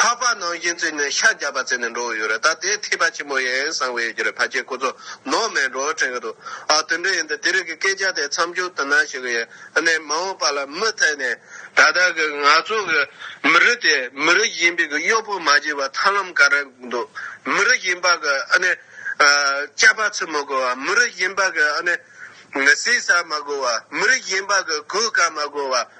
འཕགས་པ་ནང་བཞིན་བརྩིས་ནས་ཤ་རྒྱགས་པ་བརྩིས་ནས་འགྲོ་བའི་ཡུལ་རེད་ད་དེའི་ཐེག་པ་ཆེན་མོ་ཡིན་གསང་བའི་ཡུལ་རེད་ཕ་ཁྱེད་ཁོ་ཚོ་ནོར་མེད་འགྲོ་དྲན་གྱི་འདུག་ཨ་དོན་འགྲུལ་ཡིན་ཏེ་དེ་རིགས་ཀྱི་སྐད་ཆ་དེ་མཚམས་འཇོག་ཐུབ་ན་ཞུ་གི་ཡིན་ཨ་ནེ་མ་འོངས་པ་ལ་མུ་ཐད་ནས་ད་ལྟ་གི་ང་ཚོ་གི་མི་རིགས་དེ་མི་རིགས་གཞན་པའི་གི་གཡོག་པོ་མ་བྱེད་པར་ཐར་ལམ་ག་རེ་འདུག་མི་རིགས་གཞན་པ་གི་ཨ་ནེ་སྐྱག་པ་ཚུད་མི་དགོས་བ་མི་རིགས་གཞན་པ་གི་ཨ་ནེ་ཟས་ཟ་མ་དགོས་བ་མི་རིགས་གཞན་པ་གི་གོས་བཀག་མ་དགོས་བ།